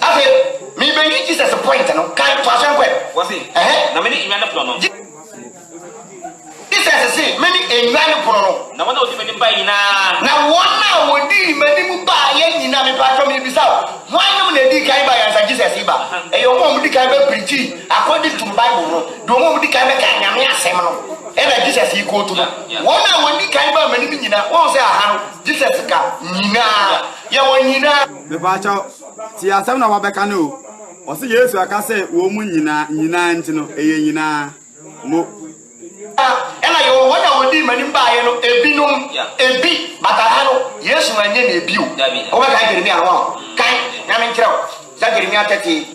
Afei, mebeyi Jesus point no. Kan, toa so nkɔ ɛ. Wɔse, Ɛhɛ. Na mene nnwa no pono no. Jesus se, Mene nnwa no pono no. Na wɔn a wɔdi m'anim baeɛ nyinaa. Na wɔn a wɔdii m'anim baeɛ nyinaa, mepaatwɔ merebisa wo, hwannom na ɛdii kan baeɛ ansa Jesus reba? Ɛyɛ wɔn a wɔdi kan bɛ preachii according to Bible no, de wɔn a wɔdi kan bɛkaa Nyame asɛm no ɛna Jesus rekootu no. Wɔn a wɔdi kan baa m'anim nyinaa, woahu sɛ aha no Jesus ka nyinaa. yɛ wɔn nyinaa. Mepaakyɛw, tie asɛm na wabɛka no o. Ɔse Yesu aka sɛ wɔn mu nyinaa, nyinaa nti no, ɛyɛ nyinaa. Mo. Na, ɛna yɛwɔ wɔn a wɔdii m'anim baeɛ no, ebinom, ebi, but aha no, Yesu ma nyɛ nea bio. Wobɛkae Jeremia no, wahu? Kae, na menkyerɛ wo, Zechariah 13.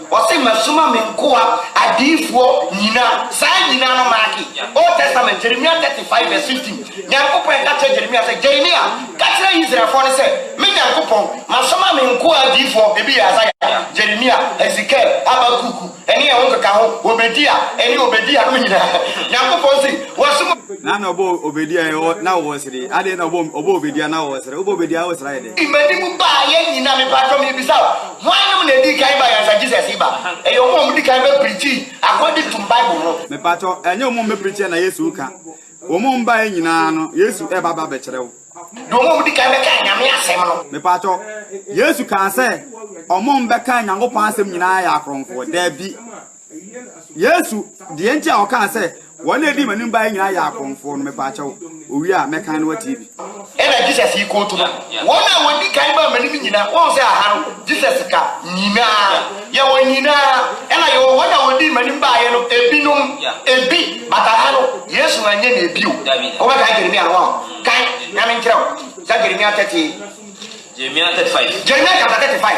Ɔse masuma me nkoa adiyifoɔ nyina saa nyina no maake old testament Jeremia 35 vs 15 Nyankopɔn ka kyerɛ Jeremia sɛ Jeremia ka kyerɛ Israelfoɔ no sɛ me Nyankopɔn masoma me nkoa adiyifoɔ ebi yɛ Isaiah Jeremia Hezekiel Habakkuk ɛne ɛho keka ho Obedia ɛne Obedia nom nyina Nyankopɔn se wasoma Na na ɔbɔ Obedia ɛ ɔ na ɔwɔ sere adɛn na ɔbɔ ɔbɔ Obedia na ɔwɔ sere wobɔ Obedia wo sere ayɛ dɛn. Fi m'anim baayɛ nyina mepaatwɔ merebisa wo Hwannom na edii kan bae ansa Jesus reba? Ɛyɛ wɔn a wɔdii kan bɛpirikyii agodi toom Bible ho. Mepakyɛw, ɛnyɛ wɔn a wɔbɛpirikyia na Yesu reka. Wɔn a wɔbae nyinaa no, Yesu reba abɛkyerɛw. Ne wɔn a wɔdii kan bɛkaa Nyame asɛm no. Mepakyɛw, Yesu kaa sɛ wɔn a wɔbɛkaa Nyankopɔn asɛm nyinaa yɛ akorɔmfo? Dabi. Yesu, deɛ nti a ɔkaa sɛ, wɔn a ɛdi m'anim baeɛ nyinaa yɛ akɔmfoɔ no, mepa akyɛw, owie a, mɛkan no watie bi. Ɛna Jesus yi kootu no, Wɔn a wɔdi kan baa m'anim nyinaa, woahu sɛ aha no, Jesus ka nyinaa, yɛwɔ nyinaa, ɛna yɛwɔ wɔn a wɔdii m'anim baeɛ no, ebinom, ebi, but aha no, Yesu anyɛ no ebi o. Wobɛkan Jeremia no, woaho? Kan, na menkyerɛ wo, Sa Jeremia 30. Jeremia 35. Jeremia chapter 35.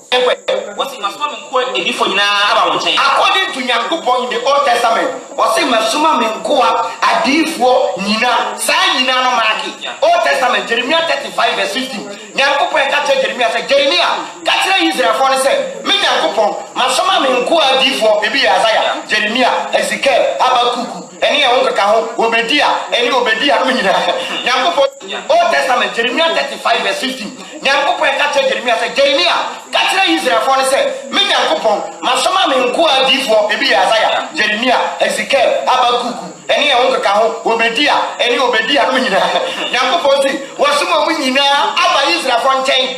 Ɛwɛ, ɔse, Masoma me nkoa adifo nyinaa aba wo nkyɛn. According to Nyankopɔn in the old testament, ɔse masoma me nkoa adiyifoɔ nyina, saa nyina no maake, old testament Jeremia 35 vs 15, Nyankopɔn ɛka kyerɛ Jeremia sɛ, Jeremia, ka kyerɛ Israelfoɔ no sɛ, me Nyankopɔn, masoma me nkoa adiyifoɔ, ebi yɛ Isaiah, Jeremia, Hezekiel, Habakkuk, Ɛne ɛho nkeka ho, Obadia, ɛne Obadia nom nyinaa, Nyankopɔn, Old Testament, Jeremia 35 vs 15, Nyankopɔn ka kyerɛ Jeremia sɛ, Jeremia, ka kyerɛ Israelfoɔ no sɛ, Me Nyankopɔn, masoma me nkoa adiyifoɔ, ebi yɛ Isaiah, Jeremia, Hezekiel, Habakkuk, ɛne ɛho nkeka ho, Obadia, ɛne Obadia nom nyinaa, Nyankopɔn se, Wɔsoma mo nyinaa aba Israelfoɔ nkyɛn.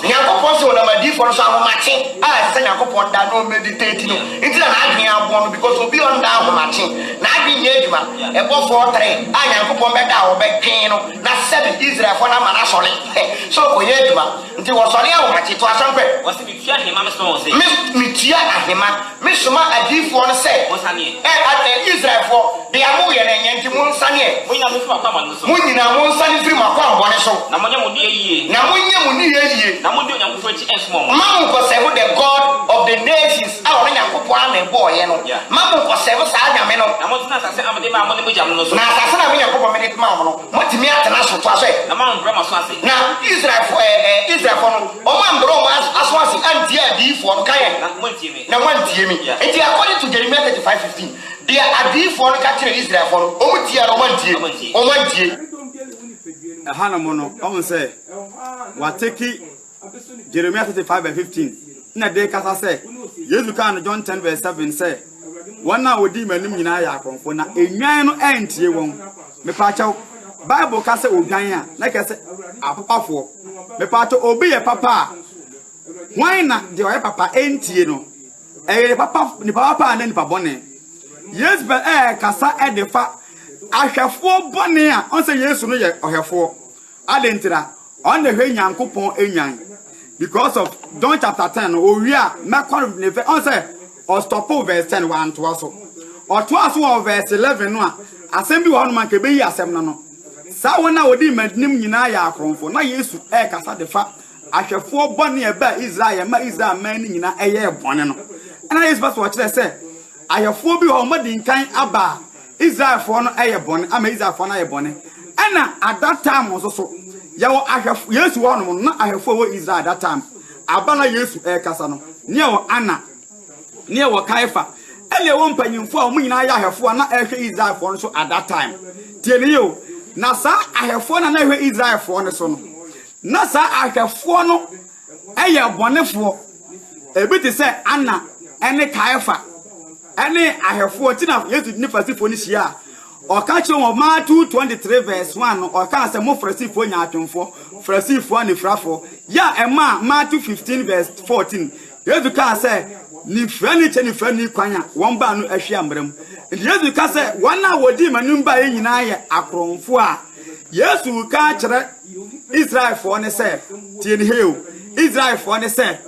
Nyankopɔn se wɔnam adiyifoɔ no so ahomakye a ɛsɛ sɛ Nyankopɔn da na ɔmmeditate no nti na n'adwene abɔ no because obi a ɔnda ahomakye n'adwene nyɛ adwuma ɛbɔfoɔ tere a Nyankopɔn bɛda a wɔbɛtwe no na sɛbe Israelfoɔ no ama no asɔre hɛ sɛ ɔkɔyɛ adwuma nti wɔsɔre ahomakye. Toa so mpɛ. Wɔse metua ahema mesoma wɔn se. Mes, metua ahema. Me soma adiyifoɔ no sɛ, Ɛ adɛn, Israelfoɔ, bea mo yɛ no nyɛ, nti mo nsaneɛ? Mo nyinaa monfiri mo akwammɔne no so. Mo nyinaa monsane mfiri mo akwammɔne so. Na monyɛ mo nneyɛɛ yie. Na monyɛ mo nneyɛɛ yie. Na monni Onyankopɔn akyi nsom wɔn. Mma monkɔsɛe mo the God of the nations a ɔno Nyankopɔn ara na ɛbɔɔeɛ no. Mma monkɔsɛe mo saa Nyame no. Na montena asase a mede maa mo ne mo agyanom no so. Na asase no a me Nyankopɔn mede maa mo no, moatumi atena so. Toa so ɛ. Na moambrɛ mo aso ase. Na Israelfoɔ, ɛ ɛ, Israelfoɔ no, wɔambrɛ wɔn aso ase antie adiyifoɔ no, ka yɛn. Na mo. na wɔantie me. Enti according to Jeremiah thirty five fifteen, deɛ adiyifoɔ no ka kyerɛɛ Israelfoɔ no, wɔn tiaa no, wɔantie, wɔn antie. Ɛhanom no, ɔhu sɛ wɔatake Jeremiah thirty five by fifteen, na de rekasa sɛ, Yesu kaa no John ten verse seven sɛ, Wɔn a wɔdii m'anim nyinaa yɛ akorɔmfoɔ, na nnwan no antie wɔn. Mepaakyɛw, Bible ka sɛ odwan a, na ɛkyerɛ sɛ apapafoɔ. Mepaakyɛw, obi yɛ papa a, Hwan na deɛ ɔyɛ papa ntie no? Ɛyɛ nipa pa nipa papa anaa nipa bɔne? Yesebel ɛrekasa de fa ahwɛfoɔ bɔne a ɔn sɛ Yesu no yɛ ɔhwɛfoɔ. Adɛn ntira? Ɔn na ɛhwɛ Nyankopɔn nwan. Because of John chapter ten no, owie a mɛkɔ ne fɛ ɔn sɛ ɔstɔpo verse ten wantoa so. Ɔtoa so wɔ verse eleven no a asɛm bi wɔ hɔnom anka ɛbɛyi asɛm no ano. Saa wɔn a wɔdi mmanim nyinaa yɛ akorɔmfo. Na Yesu ɛrekasa de fa ahwɛfoɔ bɔne a ɛbaa Israel yɛ ma Israel man no nyinaa yɛɛ bɔne no. Ɛna Yesu pɛ sɛ ɔkyerɛ sɛ ayɛfoɔ bi wɔ hɔ wɔadi nkan aba a Israelfoɔ no yɛ bɔne ama Israelfoɔ no ayɛ bɔne. Ɛna at that time nso so yɛwɔ ahwɛfo Yesu wɔ hɔnom no na ahwɛfoɔ wɔ Israel at that time aba na Yesu ɛrekasa no ne ɛwɔ Anna ne ɛwɔ Kaifa ɛna ɛwɔ mpanyinfoɔ a wɔn nyinaa yɛ ahwɛfoɔ a na ɛrehwɛ Israelfoɔ no so at that time tie ne yɛ o na saa ahwɛfoɔ na na ɛhwɛ Israelfoɔ no so no Ná saa ahwɛfoɔ no yɛ abɔnefoɔ, ebi te sɛ Anna ne Kaiafa ne ahwɛfoɔ, enti na Yesu ne Farisifoɔ no hyia a, ɔka kyerɛ wɔn, Matthew 23 vs 1 no, ɔkaa sɛ, Mo Farisifoɔ nyaatwomfoɔ, Farisifoɔ anifirafoɔ, yɛ a ɛmaa Matthew 15 vs 14, Yesu kaa sɛ, Nifirani kyɛ nifirani kwan a wɔn baa no ahwi ammra mu. Enti Yesu ka sɛ, Wɔn a wɔdii m'anim baeɛ nyinaa yɛ akorɔmfoɔ a Yesu reka akyerɛ Israelfoɔ ne sɛ, tie ne hei o, Israelfoɔ ne sɛ,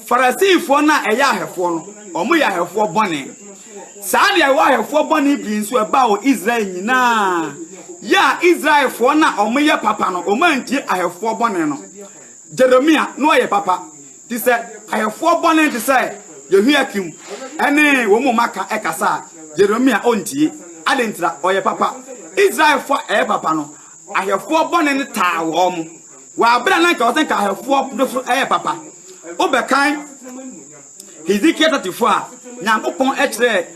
Farisifoɔ no a ɛyɛ ahɛfoɔ no, wɔn yɛ ahɛfoɔ bɔne. Saa deɛ ɛwɔ ahɛfoɔ bɔne pii nso ɛbaa wɔ Israel nyinaa. Yɛ a Israelfoɔ no a wɔn yɛ papa no, wɔn antie ahɛfoɔ bɔne no. Jeremia no ɔyɛ papa, te sɛ ahɛfoɔ bɔne te sɛ Yehoiakim ɛne wɔn mu maka ɛkasa a, Jeremia ɔntie. Adentira ɔyɛ papa. Israelfoɔ a ɛyɛ papa no, Ahwɛfoɔ bɔne no taa wɔn. Wɔ abere a na nka wɔsɛ nka ahwɛfoɔ no so yɛ papa. Wobɛkan Hesekiel tɔtefoɔ a Nyankopɔn kyerɛɛ